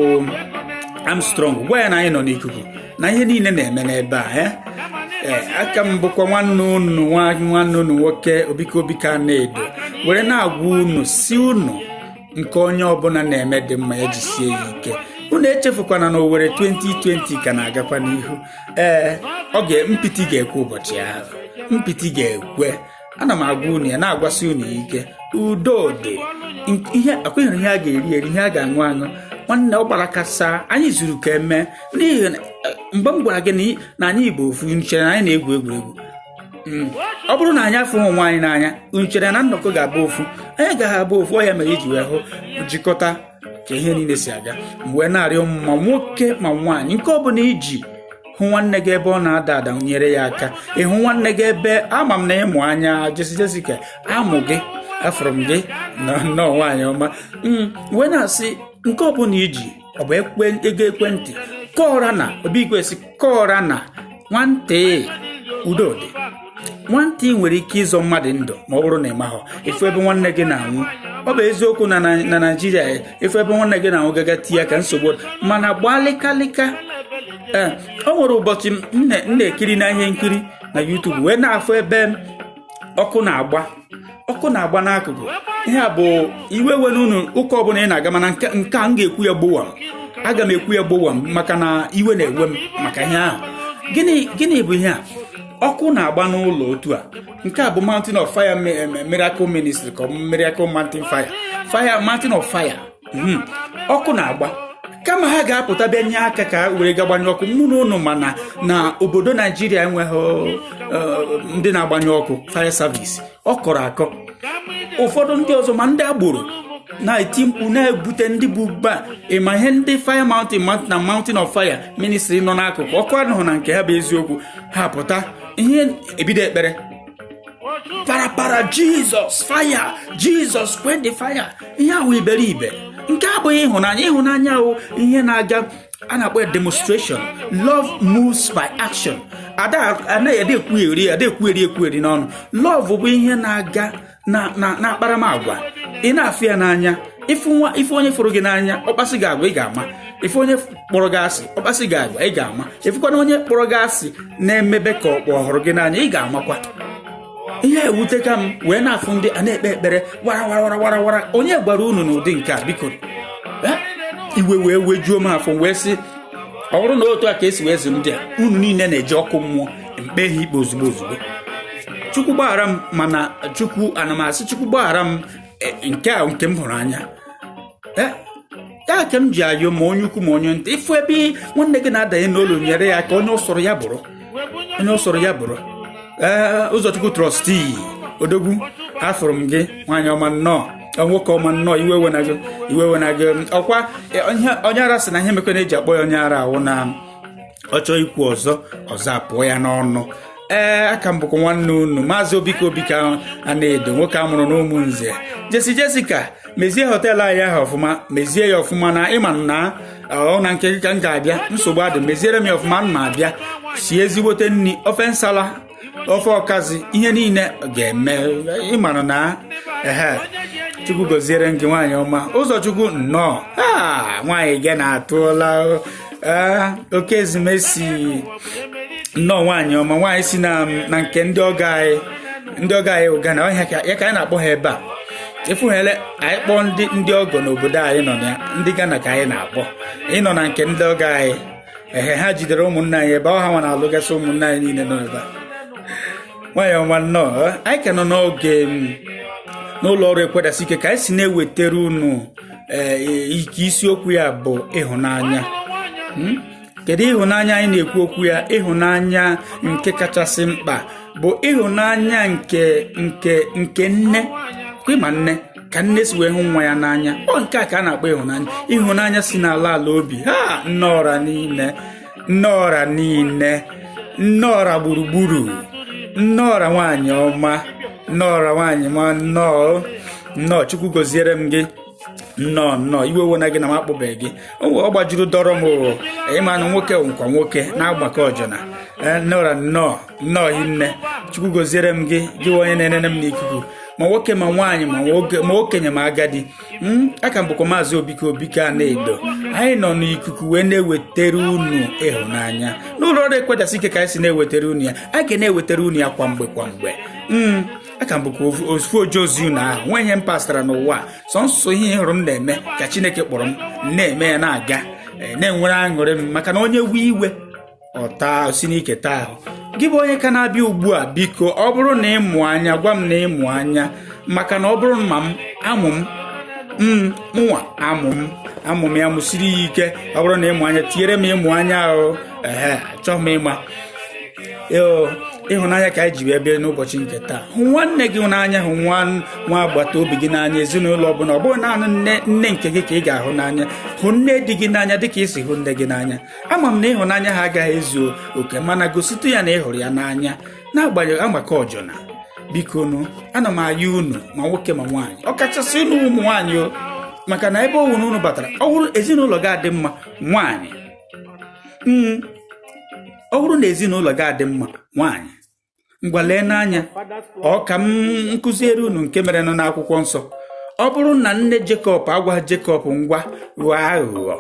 Speaker 1: Armstrong gwa ya na anyị nọ n'ikuku na ihe niile na-eme n'ebe a eh? Eh, aka m bụkwa nwanne unu nwanne unu nwoke Obika Obika Anaedo were na-agwa unu si unu nke onye ọbụla na-eme dị mma ya jisie ya ike unu echefukwana na Owerri 2020 ka na-agakwa n'ihu ee eh, ọ ga mpịtị ga-ekwe ụbọchị ahụ mpịtị ga-ekwe ana m agwa unu ya na-agwasị unu ya ike udo dị ihe akwenyere ihe a ga-eri eri ihe a ga-aṅụ aṅụ nwanne ọ gbara kasa anyị zuru ka eme n'ihi eh, mgbe m gwara gị na anyị bụ ofu unu chere na anyị na-egwu egwuregwu hmm. ọ bụrụ na anyị afụhọ onwe anyị n'anya unu chere na nnọkọ ga-abụ ofu anyị ga-abụ ofu ọ ya mere iji wee hụ jikọta ka ihe niile si aga m wee na-arịọ unu ma nwoke ma nwaanyị nke ọ bụla i ji hụ nwanne gị ebe ọ na-ada ada nyere ya aka ị hụ nwanne gị ebe ama m na ị mụ anya Jessy Jessica amụ gị afụrụ m gị nnọọ nwaanyị ọma hmm, m wee na-asị nke ọ bụla i ji ọ bụ ego ekwentị ka ọ ra na Obi Igwe sị ka ọ ra na nwantị udo dị nwantị nwere ike ịzọ mmadụ ndụ ma ọ bụrụ na ị maghọ ị fụ ebe nwanne gị na-anwụ ọ bụ eziokwu na na naijiria ị fụ ebe nwanne gị na-anwụ gaga tinye aka nsogbu mana gbalịkalịka ee eh, o nwere ụbọchị m na-ekiri na ihe nkiri na YouTube wee na-afụ ebe ọkụ na-agba ọkụ na-agba n'akụkụ ihe a bụ iwe ewena unu ụka ọbụla ị na-aga mana nke nke a m ga-ekwu ya gbowam aga m ekwu ya gbowam maka na iwe na-ewe m maka ihe ahụ gịnị gịnị bụ ihe a ọkụ na-agba n'ụlọ otu a nke a bụ mountain of fire mi- em- miracle ministry ka ọ bụ miracle mountain fire fire mountain of fire hmm. ọkụ na-agba kama ha ga-apụta bịa nye aka ka were ga gbanyụ ọkụ mụ na unu ma na obodo naijiria enweghị eh, ndị na-agbanyụ ọkụ fire service ọ kọrọ akọ ụfọdụ ndị ọzọ ma ndị agboro na-eti mkpu na-ebute ndị bụ ba ị ma ihe ndị fire mountain na mountain of fire ministry nọ n'akụkụ ọkụ anọhọ na nke ha bụ eziokwu ha pụta ihe ebido ekpere parapara Jesus fire Jesus quench the fire ihe a wụ iberibe nke abụghị ịhụnanya ịhụnanya ahụ ihe na-aga a na-akpọ ya demonstration love moves by action ada anaghị ede ekwugheri ede ekwugheri ekwugheri n'ọnụ love bụ ihe na-aga na akparamagwa ị na-afụ ya n'anya ị fụ onye fụrụ gị n'anya ọ kpasị gị agwa ị ga-ama ị fụ onye kpọrọ gị asị ọ kpasị gị agwa ị ga-ama ị fụkwanụ onye kpọrọ gị asị na-emebe ka ọ kpọ ọ hụrụ gị n'anya ị ga-amakwa ihe ewute ka m wee na-afụ ndị a na-ekpe ekpere wara wara wara wara onye gwara unu n'ụdị nke a biko eh? iwe wee wejuo m afọ wee sị ọ bụrụ na otu a ka e si wee zụ ndị a unu niile na-eje ọkụ mmụọ m kpee ha ikpe ozugbo ozugbo chukwu gbaghara m mana chukwu ana m asị chukwu gbaghara m eh, nke a nke m hụrụ anya eh? ya ka m ji ayọ ma onye ukwu ma onye nta ị fụ ebe nwanne gị na-adanye n'olu nyere ya aka onye ọ sọrọ ya bụrụ onye ọ sọrọ ya bụrụ ee ụzọchukwu trọstii odogwu afụrụ m gị nwaanyị ọma nnọọ nwoke ọma nnọọ iwe ewena gị iwe ewena gị ọ kwa e, onye ara sị na ihe mekọ na-eji akpọ ya onye ara wụ na ọ chọọ ikwu ọzọ ọzọ apụọ ya n'ọnụ ee a ka m bụkwa nwanne unu maazị obika obika anaedo nwoke a mụrụ n'ụmụnze jessi jessica mezie họteelụ anyị ahụ ọfụma mezie ya ọfụma na ị ma na ọ na nke ka m ga-abịa nsogbu adị meziere m ya ọfụma m na-abịa sie ezigbote nri ofe nsala ofe ọkazi ihe niile ga-eme ị mara na ehe chukwu goziere m gị nwaanyị ọma ụzọchukwu nnọọ a nwaanyị gị na-atụla ee okezie mercy nnọọ nwaanyị ọma nwaanyị si na na nke ndị ọgọ anyị ndị ọgọ anyị Ghana ọhịa ka ya ka anyị na-akpọ ha ebe a efughele anyị kpọọ ndị ndị ọgọ n'obodo anyị nọ na ya ndị Ghana ka anyị na-akpọ ị nọ na nke ndị ọgọ anyị ehe ha jidere ụmụnna anyị ebe ọ ha nwa na-alụgasị ụmụnna anyị niile nọ ebe a nwaanyị ọma nnọọ eh, anyị ka nọ n'oge mm, n'ụlọ ọrụ ekwe dasie ike ka anyị si na-ewetara unu ee nke isiokwu ya bụ ịhụnanya hmm? kedu ịhụnanya anyị na-ekwu okwu ya ịhụnanya nke kachasị mkpa bụ ịhụnanya nke nke nke nne kwima nne ka nne si wee hụ nwa ya n'anya ọ nke a ka a na-akpọ ịhụnanya ịhụnanya si n'ala ala obi ha nne ọra niile nne ọra niile nne ọra gburugburu nne ọra nwaanyị ọma nne ọra nwaanyị ọma nnọọ nnọọ chukwu goziere m gị nnọọ nnọọ iwe ewena gị na m akpọbeghị gị ọ gbajuru dọrọ m oo ị manụ nwoke nkwa nwoke na-agbakọ ọjọna eh, nne ọra nnọọ nnọọ hi nne chukwu goziere m gị gị onye na-enene m n'ikuku ma nwoke ma nwaanyị ma okenye ma agadi m aka m bụkwa maazị obike obike Anaedo anyị nọ n'ikuku wee na-ewetara unu ịhụnanya n'ụlọ ọrụ ekwedasị ike ka anyị si na-ewetara unu ya a ga na-ewetara unu ya kwa mgbe kwa mgbe m aka m bụkwa ofu- ofu oje ozi unu ahụ nwe ihe m pastara n'ụwa a, sọnsọ ihe ị hụrụ m na-eme ka chineke kpọrọ m na-eme ya na-aga eh, na-enwere aṅụrị m maka na onye wee iwe ọta si n'ike taa ahụ gị bụ onye ka na-abịa ugbu a biko ọ bụrụ na ị mụ anya gwa m na ị mụ anya maka na ọ bụrụ ma m amụ m m mụnwa amụ m amụ m ya mụsiri ya ike ọ bụrụ na ị mụ anya tinyere m ịmụ anya ahụ ehe achọrọ m ịma Eo, ịhụnanya ka anyị ji wee bịa n'ụbọchị nke taa hụ nwanne gị n'anya hụ nwa nwa agbata obi gị n'anya ezinụlọ ọbụla ọ bụghị naanị nne nne nke gị ka ị ga-ahụ n'anya hụ nne di gị n'anya dịka ị si hụ nne gị n'anya ama m na ịhụnanya ha agaghị ezu oke mana gositụ ya na ị hụrụ ya n'anya na-agbanyeghị agbakọ ọjọna bikonụ ana m ayọ unu ma nwoke ma nwaanyị ọkachasị unu ụmụ nwaanyị o maka na ebe ọbụla unu batara ọ bụrụ ezinụlọ ga-adị mma nwaanyị hmm. ọ bụrụ na ezinụlọ ga-adị mma nwaanyị ngwa leenụ anya ọ ka m kụziere unu nke merenụ n'akwụkwọ nsọ ọ bụrụ na nne Jekọb agwa Jekọb ngwa ghọọ aghụghọ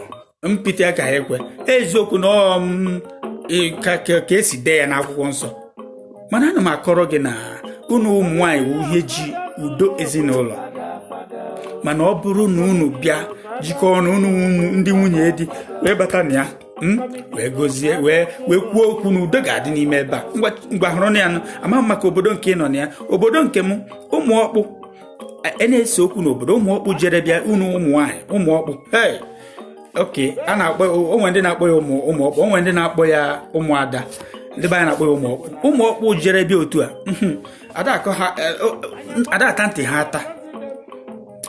Speaker 1: mpịtị aka ha ekwe eziokwu na ọ ka e si dee ya n'akwụkwọ nsọ mana ana m akọrọ gị na unu ụmụ nwaanyị wụ ihe ji udo ezinụlọ mana ọ bụrụ na unu bịa jikọọ ọnụ unu ndị nwunye di wee bata na ya Hmm? wee gozie wee wee kwuo okwu na udo ga-adị n'ime ebe a ngwa hụrụ na ya nụ amaghị m maka obodo nke ị nọ na ya obodo nke m ụmụ ọkpụ e, e na-ese okwu n'obodo ụmụ ọkpụ jere bịa unu ụmụ nwaanyị ụmụ ọkpụ ee nke a na-akpọ o nwe ndị na-akpọ ya ụmụ ụmụ ọkpụ o nwe ndị na-akpọ ya ụmụada ndị be anyị na-akpọ ya ụmụ ọkpụ ụmụ ọkpụ jere bịa otu a hmm, ada ata ntị ha ata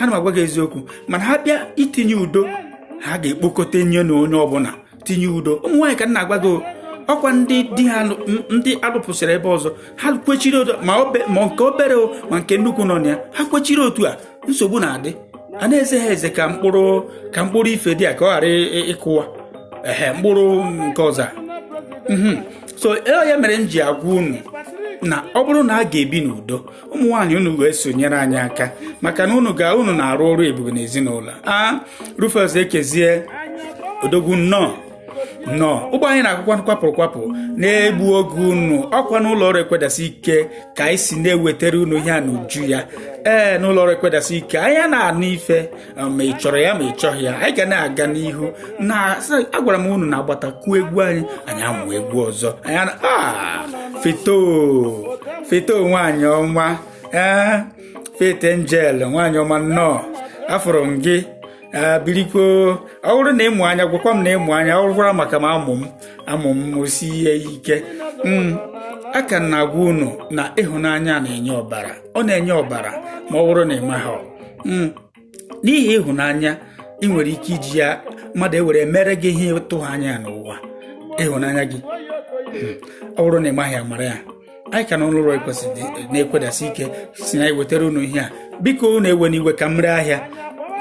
Speaker 1: ana m agwa gị eziokwu mana ha bịa itinye udo ha ga-ekpokọta nye na onye ọbụla tinye udo ụmụ nwaanyị ka m na-agwa gị ọkwa ndị di ha ndị a lụpụsịrị ebe ọzọ ha kwechiri otu ma nke obere o ma nke nnukwu nọ na ya ha kwechiri otu a nsogbu na-adị a na-eze ha eze ka mkpụrụ ka mkpụrụ ife dị a ka ọ ghara ịkụwa ehe mkpụrụ nke ọzọ mhm. so e, ya mere m ji agwa unu na ọ bụrụ na a ga-ebi n'udo ụmụ nwaanyị unu ga-eso nyere anyị aka maka na unu ga unu na-arụ ọrụ ebube n'ezinụlọ a Rufus Ekezie odogwu nnọọ nnọọ ụgbọ anyị na-akwụkwa kwapụrụ kwapụ na-egbu oge unu ọkwa n'ụlọ ọrụ ekwedasị ike ka anyị si na-ewetara unu ihe a n'uju ya ee n'ụlọ ọrụ ekwedasị ike anyị na-anụ ife um, ma ị chọrọ ya ma ị chọghị ya anyị ga na-aga n'ihu na agwara m unu na agbatakwuo egwu anyị anyị amụ egwu ọzọ anyị na ah, feto feto nwaanyị ọma ee eh, faith angel nwaanyị ọma nnọọ afụrụ m gị biriko ọ bụrụ na ị mụ anya gwakwa m na ị mụ anya ọ gwara maka m amụ m amụ m o si ihe ike hmm, aka m na-agwa unu na ịhụnanya na-enye ọbara ọ na-enye ọbara ma ọ bụrụ na ị maghị hmm. n'ihi ịhụnanya ị nwere ike iji ya mmadụ ewere mere gị ihe ị tụghị anya n'ụwa ịhụnanya gị hmm. ọ bụrụ na ị maghị amara ya anyị ka na ụlọ ụlọ ekwesịrị na-ekwedasi ike si na ewetara unu ihe a biko unu ewena iwe ka m ree ahịa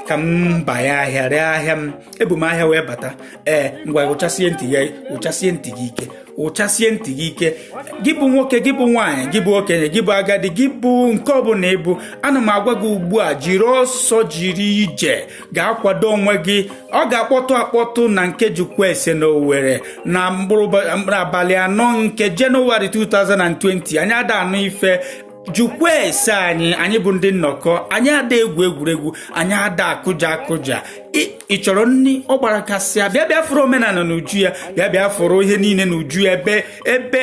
Speaker 1: ka m banye ahịa ree ahịa m ebu m ahịa wee bata ee ngwa ụchasie ntị gị ụchasie ntị gị ike ụchasie ntị gị ike gị bụ nwoke gị bụ nwaanyị gị bụ okenye gị bụ agadi gị bụ nke ọbụla ị bụ ana m agwa gị ugbu a jiri ọsọ jiri ije gaa kwado onwe gị ọ ga-akpọtụ akpọtụ na nke jụkwaese na owere na mkpụrụ abalị anọ nke jenụwarị 2020 anyị ada anụ ife jụkwa ese anyị anyị bụ ndị nnọkọ anyị ada egwu egwuregwu anyị ada akụja akụja ị chọrọ nri ọ gbara kasịa bịa bịa fụrụ omenala n'uju ya bịa bịa fụrụ ihe niile n'uju ya ebe ebe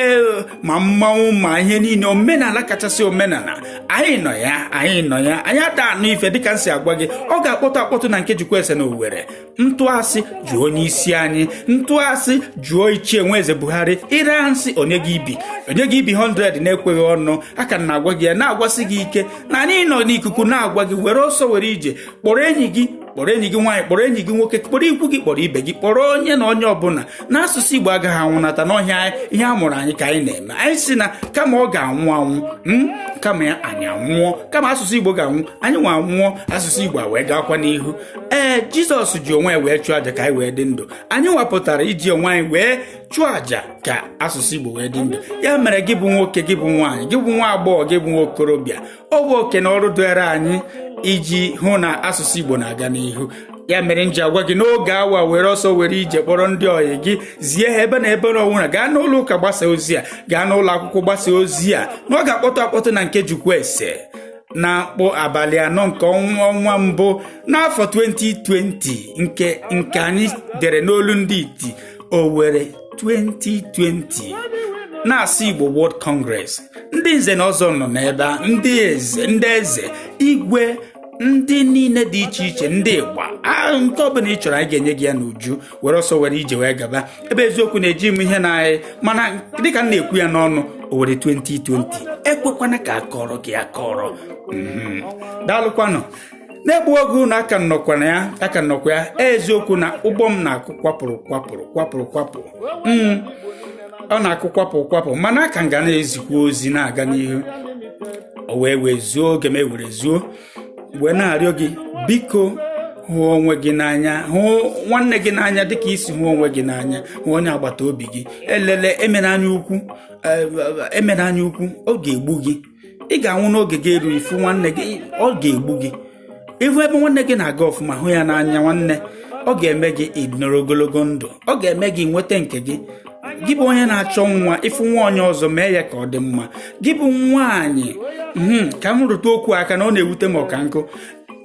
Speaker 1: ma mmanwụ ma ihe niile omenala kachasị omenala anyị nọ ya anyị nọ ya anyị ada anụ ife dịka m si agwa gị ọ ga-akpọtụ akpọtụ na nke jụkwaese na owere m tụọ asị jụọ onye isi anyị m tụọ asị jụọ ichie nweze buhari ịra nsị onye gị ibi onye gị ibi 100 na-ekweghị ọnụ a ka na-agwa gị ya na-agwasị gị ike na anyị nọ n'ikuku na-agwa gị were ọsọ were ije kpọrọ enyi gị kpọrọ enyi gị nwaanyị kpọrọ enyi gị nwoke kpọrọ ikwu gị kpọrọ ibe gị kpọrọ onye na onye ọbụla na asụsụ igbo agaghị anwụnata n'ọhịa ihe a mụrụ anyị ka anyị na-eme anyị si na kama ọ ga-anwụ anwụ hmm, kama ya anyị anwụọ kama asụsụ igbo ga-anwụ anyị nwa anwụọ asụsụ igbo wee gaakwa n'ihu ee jizọs ji onwe ya wee chụọ aja ka anyị wee dị ndụ anyị wapụtara iji onwe anyị wee chụọ aja ka asụsụ igbo wee dị ndụ ya mere gị bụ nwoke gị bụ nwaanyị gị bụ nwa agbọghọ gị bụ nwa okorobịa ọ bụ oke na ọrụ dịrị anyị iji hụ na asụsụ igbo na-aga n'ihu ya mere m ji agwa gị n'oge awa were ọsọ were ije kpọrọ ndị ọyị gị zie ha ebe na ebe na ọnwụna gaa n'ụlọ ụka gbasa ozi a gaa n'ụlọ akwụkwọ gbasa ozi a na ọ ga-akpọtụ akpọtụ na nke jụkwaese na mkpụrụ abalị anọ nke ọnwa ọnwa mbụ n'afọ 2020 nke nke anyị dere n'olu ndị iti Owerri 2020 na-asị Igbo World Congress ndị nze na ọzọ nọ n'ebe a ndị eze ndị eze igwe ndị niile dị iche iche ndị ịgba nke ọbụla ị chọrọ anyị ga-enye gị ya n'uju were ọsọ were ije wee gaba ebe eziokwu na-eji m ihe na anyị mana dịka m na-ekwu ya n'ọnụ Owerri 2020 ekwekwana ka akọrọ gị akọrọ mhm. daalụkwanụ na-egbu oge unu aka m nọkwa na ya aka m nọkwa ya eziokwu na ụgbọ m na-akụ kwapụrụ kwapụrụ kwapụrụ kwapụ mhm. ọ na-akụ kwapụ kwapụ mana aka m ga na-ezikwa ozi na-aga n'ihu o wee wee zuo oge m ewere zuo wee na-arịọ gị biko hụ onwe gị n'anya hụ nwanne gị n'anya dịka i si hụ onwe gị n'anya hụ onye agbata obi gị elele emena anya ukwu emena anya ukwu ọ ga-egbu gị ị ga-anwụ n'oge gị erughị ịfụ nwanne gị ọ ga-egbu gị ịhụ ebe nwanne gị na-aga ọfụma hụ ya n'anya nwanne ọ ga-eme gị ịnọrọ ogologo ndụ ọ ga-eme gị inweta nke gị gị bụ onye na-achọ nwa ịfụ nwa onye ọzọ mee ya ka ọ dị mma gị bụ nwaanyị hmm, ka m rụta okwu aka na ọ na-ewute m ọka nkụ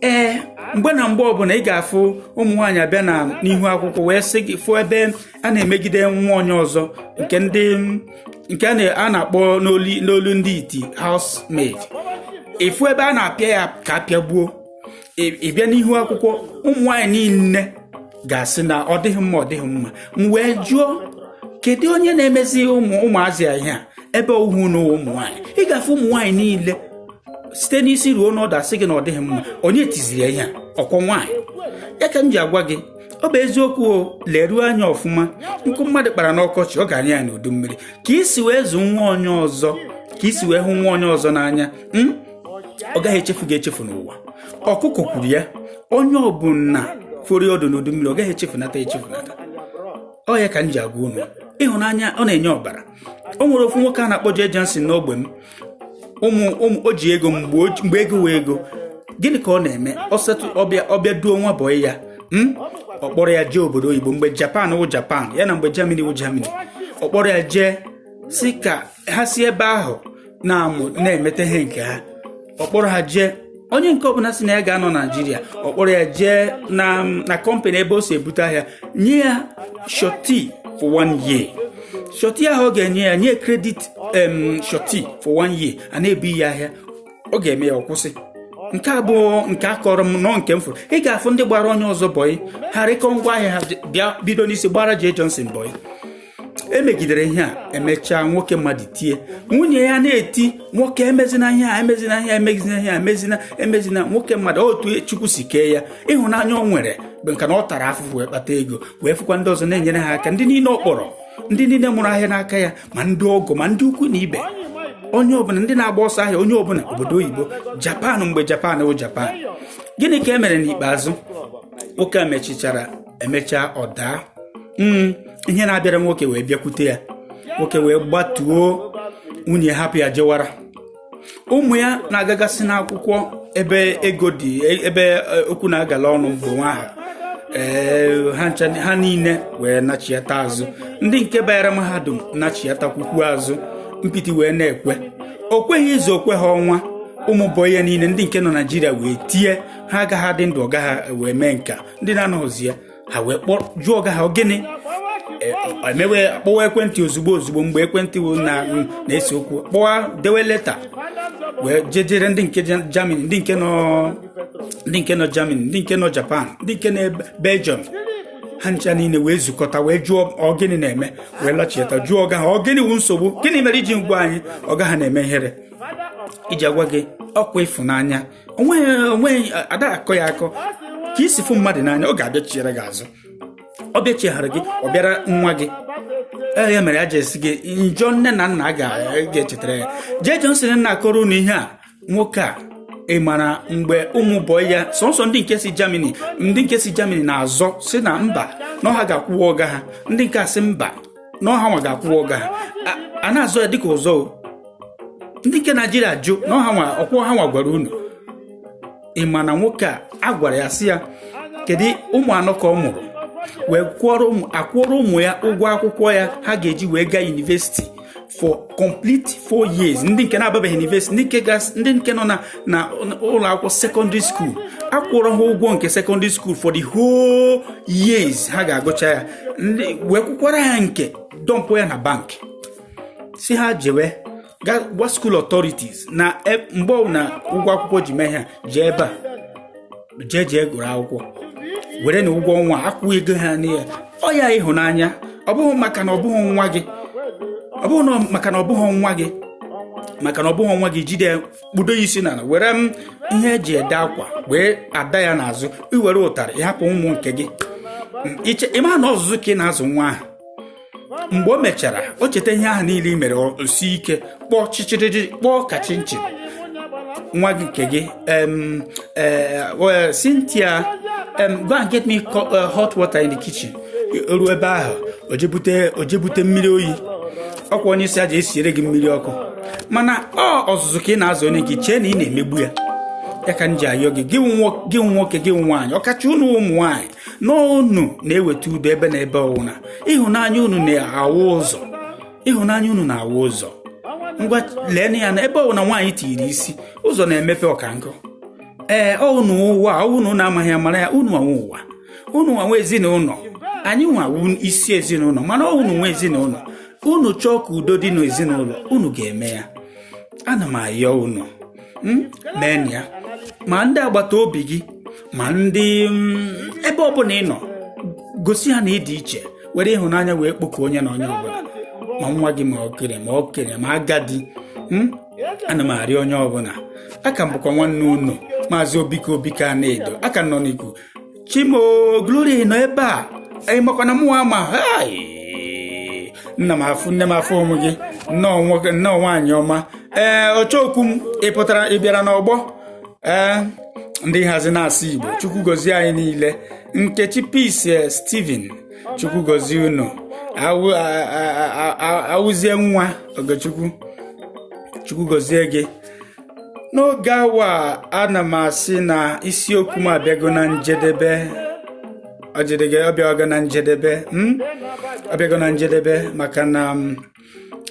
Speaker 1: ee mgbe na mgbe ọbụla ị ga-afụ ụmụ nwaanyị abịa na n'ihu akwụkwọ wee sị gị fụ ebe a na-emegide nwa onye ọzọ nke ndị nke a na-akpọ n'olu ndị iti housemaid ịfụ ebe a na-apịa ya ka a pịagbuo Ị- ị bịa n'ihu akwụkwọ ụmụ nwaanyị niile ga-asị na ọ dịghị mma ọ dịghị mma m wee jụọ kedu onye na-emezi ụmụ ụmụazị a ihe a ebe ọ wụ na ụmụ nwaanyị ị ga-afụ ụmụ nwaanyị niile site n'isi ruo n'ọdụ asị gị na ọ dịghị mma onye tiziri ya ihe a ọ kwa nwaanyị ya ka m ji agwa gị ọ bụ eziokwu leruo anya ọfụma nkụ mmadụ kpara n'ọkọchị ọ ga-anya ya n'udu mmiri ka i si wee zụ nwa onye ọzọ ka i si wee hụ nwa onye ọzọ n'anya ọ gaghị echefu gị echefu n'ụwa ọkụkọ kwuru ya onye ọbụla foro ọdụ n'udu mmiri ọ gaghị echefunata echefunata ọ ya ka m ji agwa unu ịhụnanya ọ na-enye ọbara o nwere ofu nwoke a na-akpọ Jay Johnson n'ogbe m ụmụ ụmụ o ji ego mgbe ego wụ ego gịnị ka ọ na-eme ọsetụ ọ bịa ọ bịa duo nwa bọị ya hmm? ọ kpọrọ ya jee obodo oyibo mgbe Japan wụ Japan ya na mgbe Germany wụ Germany ọ kpọrọ ya jee sị ka ha si ebe ahụ na-amụ na-emete ihe nke ha ọ kpọrọ ha jee onye nke ọbụla sị na ya ga-anọ Naịjirịa ọ kpọrọ ya jee na na kọmpanị ebe o si ebute ahịa nye ya surety for one year surety ahụ ọ ga-enye ya nye credit em surety for one year a na-ebu ya ahịa ọ ga-eme ya ọ kwụsị nke a abụghị nke a kọrọ m ọ nke m fụrụ ị ga-afụ ndị gbara onye ọzọ bọyị ha rikọọ ngwa ahịa ha bịa bido n'isi gbara Jay Johnson bọyị emegidere ihe a emechaa nwoke mmadụ tie nwunye ya na-eti nwoke emezina ihe a emezina ihe a emezina ihe a emezina emezina nwoke mmadụ otu chukwu si kee ya ịhụnanya o nwere bụ maka na ọ tara afụfụ wee kpata ego wee fụkwa ndị ọzọ na-enyere ha aka ndị niile ọ kpọrọ ndị niile mụrụ ahịa n'aka ya ma ndị ọgọ ma ndị ikwu na ibe onye ọbụla ndị na-agba ọsọ ahịa onye ọbụla obodo oyibo japan mgbe japan bụ japan gịnị ka e mere n'ikpeazụ nwoke a mechichara emechaa ọ daa hmm, ihe na-abịara nwoke wee bịakwute ya nwoke wee gbatuo nwunye hapụ ya jewara ụmụ ya na-agagasị n'akwụkwọ ebe ego dị ebe e, okwu na-agala ọnụ bụ nwa ha ee ha niile wee nachiata azụ ndị nke banyere mahadum nachiatakwukwu azụ mpiti wee na-ekwe o kwe ha izu o kwe ha ọnwa ụmụ bọyị ya niile ndị nke nọ Naịjirịa wee tie ha agaghị adị ndụ ọga ha wee mee nka ndị na-anọghịzi ya ha wee kpọrọ jụọ ọga ha gịnị e, eme wee kpọwa ekwentị ozugbo ozugbo mgbe ekwentị na-ese okwu kpọwa dewe leta wee jejere ndị nke Germany ndị nke nọ ndị nke nọ Germany ndị nke nọ Japan ndị nke nọ Belgium ha ncha niile wee zukọta wee jụọ ọgịnị na-eme wee lachieta jụọ ọga ha ọgịnị wu nsogbu gịnị mere i jighị gwa anyị ọga ha na-eme ihere iji agwa gị ọkwa ịfụnanya onweghị onweghị ada akọ ya akọ ka i si fụ mmadụ n'anya ọ ga-abịa chiere gị azụ ọ bịa chighara gị ọ bịara nwa gị ee ya mere e ji asị gị njọ nne na nna ga-echetara ya jee Johnson m na-akọrọ unu ihe a nwoke a ị mara mgbe ụmụ bọyị ya sọnsọ ndị nke si Germany ndị nke si Germany na-azọ sị na mba na ọ ha ga-akwụwa ọga ha ndị nke a sị mba na ọ ha nwa ga-akwụwa ọga ha A- a na-azọ ya dịka ụzọ o. ndị nke Naịjirịa jụ na ọ ha nwa ọkwụ ọ ha nwa gwara unu ị ma na nwoke a a gwara ya sị ya kedu ụmụ anọ ka ọ mụrụ wee kwụọrọ ụmụ akwụọrọ ụmụ ya ụgwọ akwụkwọ ya ha ga-eji wee gaa yunivesiti for complete four years ndị nke na-ababeghị yunivesiti ndị nke gas- ndị nke nọ na na ụlọ akwụkwọ sekọndịrị skuul akwụọrọ ha ụgwọ nke sekọndịrị skuul for the whole years ha ga-agụcha ya wee kwụkwara ya nke dọmpụ ya na bank sị ha jewe gwa school authorities na e, mgbe na ụgwọ akwụkwọ ji mee ha jee ebe a jee jee gụrụ akwụkwọ were na ụgwọ ọnwa akwụ ego ha n'ihe ọ ya ịhụnanya ọ bụghị maka na ọ bụghị nwa gị ọ bụghị maka na ọ bụghị nwa gị maka na ọ bụghị nwa gị jide kpudo ya isi n'ala were m ihe e ji ede akwa wee ada ya n'azụ i were ụtarị ị hapụ ụmụ nke gị iche ị ma na ọzụzụ ka ị na-azụ nwa ahụ mgbe o mechara o cheta ihe ahụ niile i mere o sie ike kpọọ chịchịrịrị kpọọ ka chinchin nwa gị nke gị Cynthia go and get me uh, hot water in the kitchen ruo ebe ahụ o je bute mmiri oyi ọ kwa onye ị sị ya jee siere gị mmiri ọkụ mana ọ ọzụzụ ka ị na-azụ onye gị chee na ị na-emegbu ya ya ka m ji ayọ gị gị nwoke gị nwaanyị ọkacha unu ụmụ nwaanyị na unu na-eweta udo ebe na ebe ọwụna ịhụnanya unu na-awụ ụzọ ịhụnanya unu na-awụ ụzọ ngwa lee ya na ebe ọwụna nwaanyị tiri isi ụzọ na-emepe ọkankụ ee unu nwe ụwa ọ wụ na unu amaghị amara ya unu nwe ụwa unu nwa nwe ezinụlọ anyịnwa wụ isi ezinụlọ mana ọ unu nwe ezinụlọ unu chọọ ka udo dị n'ezinụlọ unu ga-eme ya ana m ayọ unu hmm? mee ya ma ndị agbata obi gị ma ndị hmm, ebe ọbụla ị nọ gosi ha na ịdị iche were ịhụnanya wee kpọkọ onye na onye ọbụla ma nwa gị ma okenye ma okenye ma agadi hmm? ana m arịọ onye ọbụla a ka m bụkwa nwanne unu maazị obike obike anaedo a ka nọ n'ikuku chimo glory nọ ebe a ị makwa na mụnwa ma hai nna m afụ nne m afụhụ m gị nnọọ nwoke nnọọ nwaanyị ọma ee ọchọokwu m ị pụtara ị bịara n'ọgbọ ee ndị nhazi na-asụ igbo chukwu gozie anyị niile nkechi peace eh, steven chukwu gozie unu Awụ- a- a- a- a- awụzie nwa ogechukwu chukwu gozie gị n'oge a wa ana m asị na isiokwu m abịago na njedebe ọjidịga ọ bịago na njedebe hmm? ọ bịago na njedebe maka na hmm,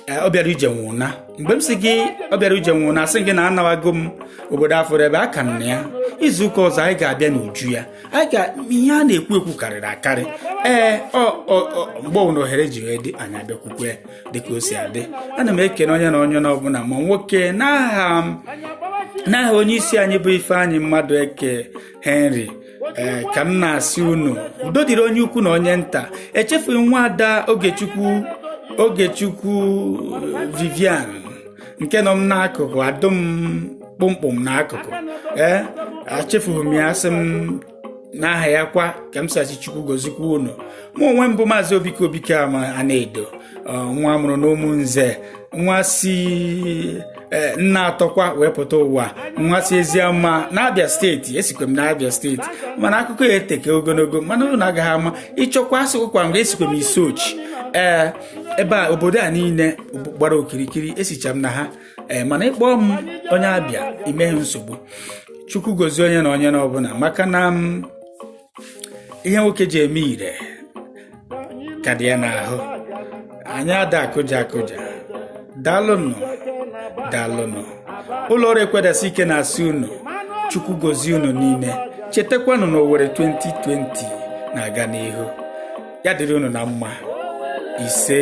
Speaker 1: eh, ọbịara ije nwe ụna mgbe m si gị ọbịara ije nwe ụna asị m gị na anawago m obodo afọrọ ebe aka na ya izu ụka ọzọ anyị ga-abịa n'uju ya ihe a na-ekwu ekwu karịrị akarị ee mgbe ọbụla ohere ji wee dị anyị abịa kwukwee dịka o si adị ana m ekene onye na onye n'ọbụla ma nwoke n'aha m n'aha onye isi anyị bụ Ifeanyị Mmadụeke Henry ee ka m na-asị unu udo dịrị onye ukwu na onye nta echefughị nwaada Ogechukwu Ogechukwu Vivian nke nọ m n'akụkụ adụ m kpụmkpụm n'akụkụ ee echefughị m ya sị m n'aha ya kwa ka m si sị chukwu gozikwa unu mụ onwe m bụ maazị obike obike anaedo nwa a mụrụ n'ụmụnze nwa si e, nneatọ kwa wee pụta ụwa nwa si eziama n'abịa steeti esikwe m n'abịa steeti mana akụkọ ya eteke ogologo mana unu agaghị ama ị chọkwa asịkwa na esikwe m isuochi ee ebe a obodo a niile gbara okirikiri esicha m na ha ee mana ị kpọọ m onye abịa i meghị nsogbu chukwu gozie onye na onye na ọbụla maka na ihe nwoke ji eme ire ka dị ya n'ahụ anyị ada akụja akụja daalụnụ daalụnụ ụlọ ọrụ ekwedasi ike na-asị unu chukwu gozie unu niile chetakwanụ na Owerri 2020 na-aga n'ihu ya dịrị unu na mma ise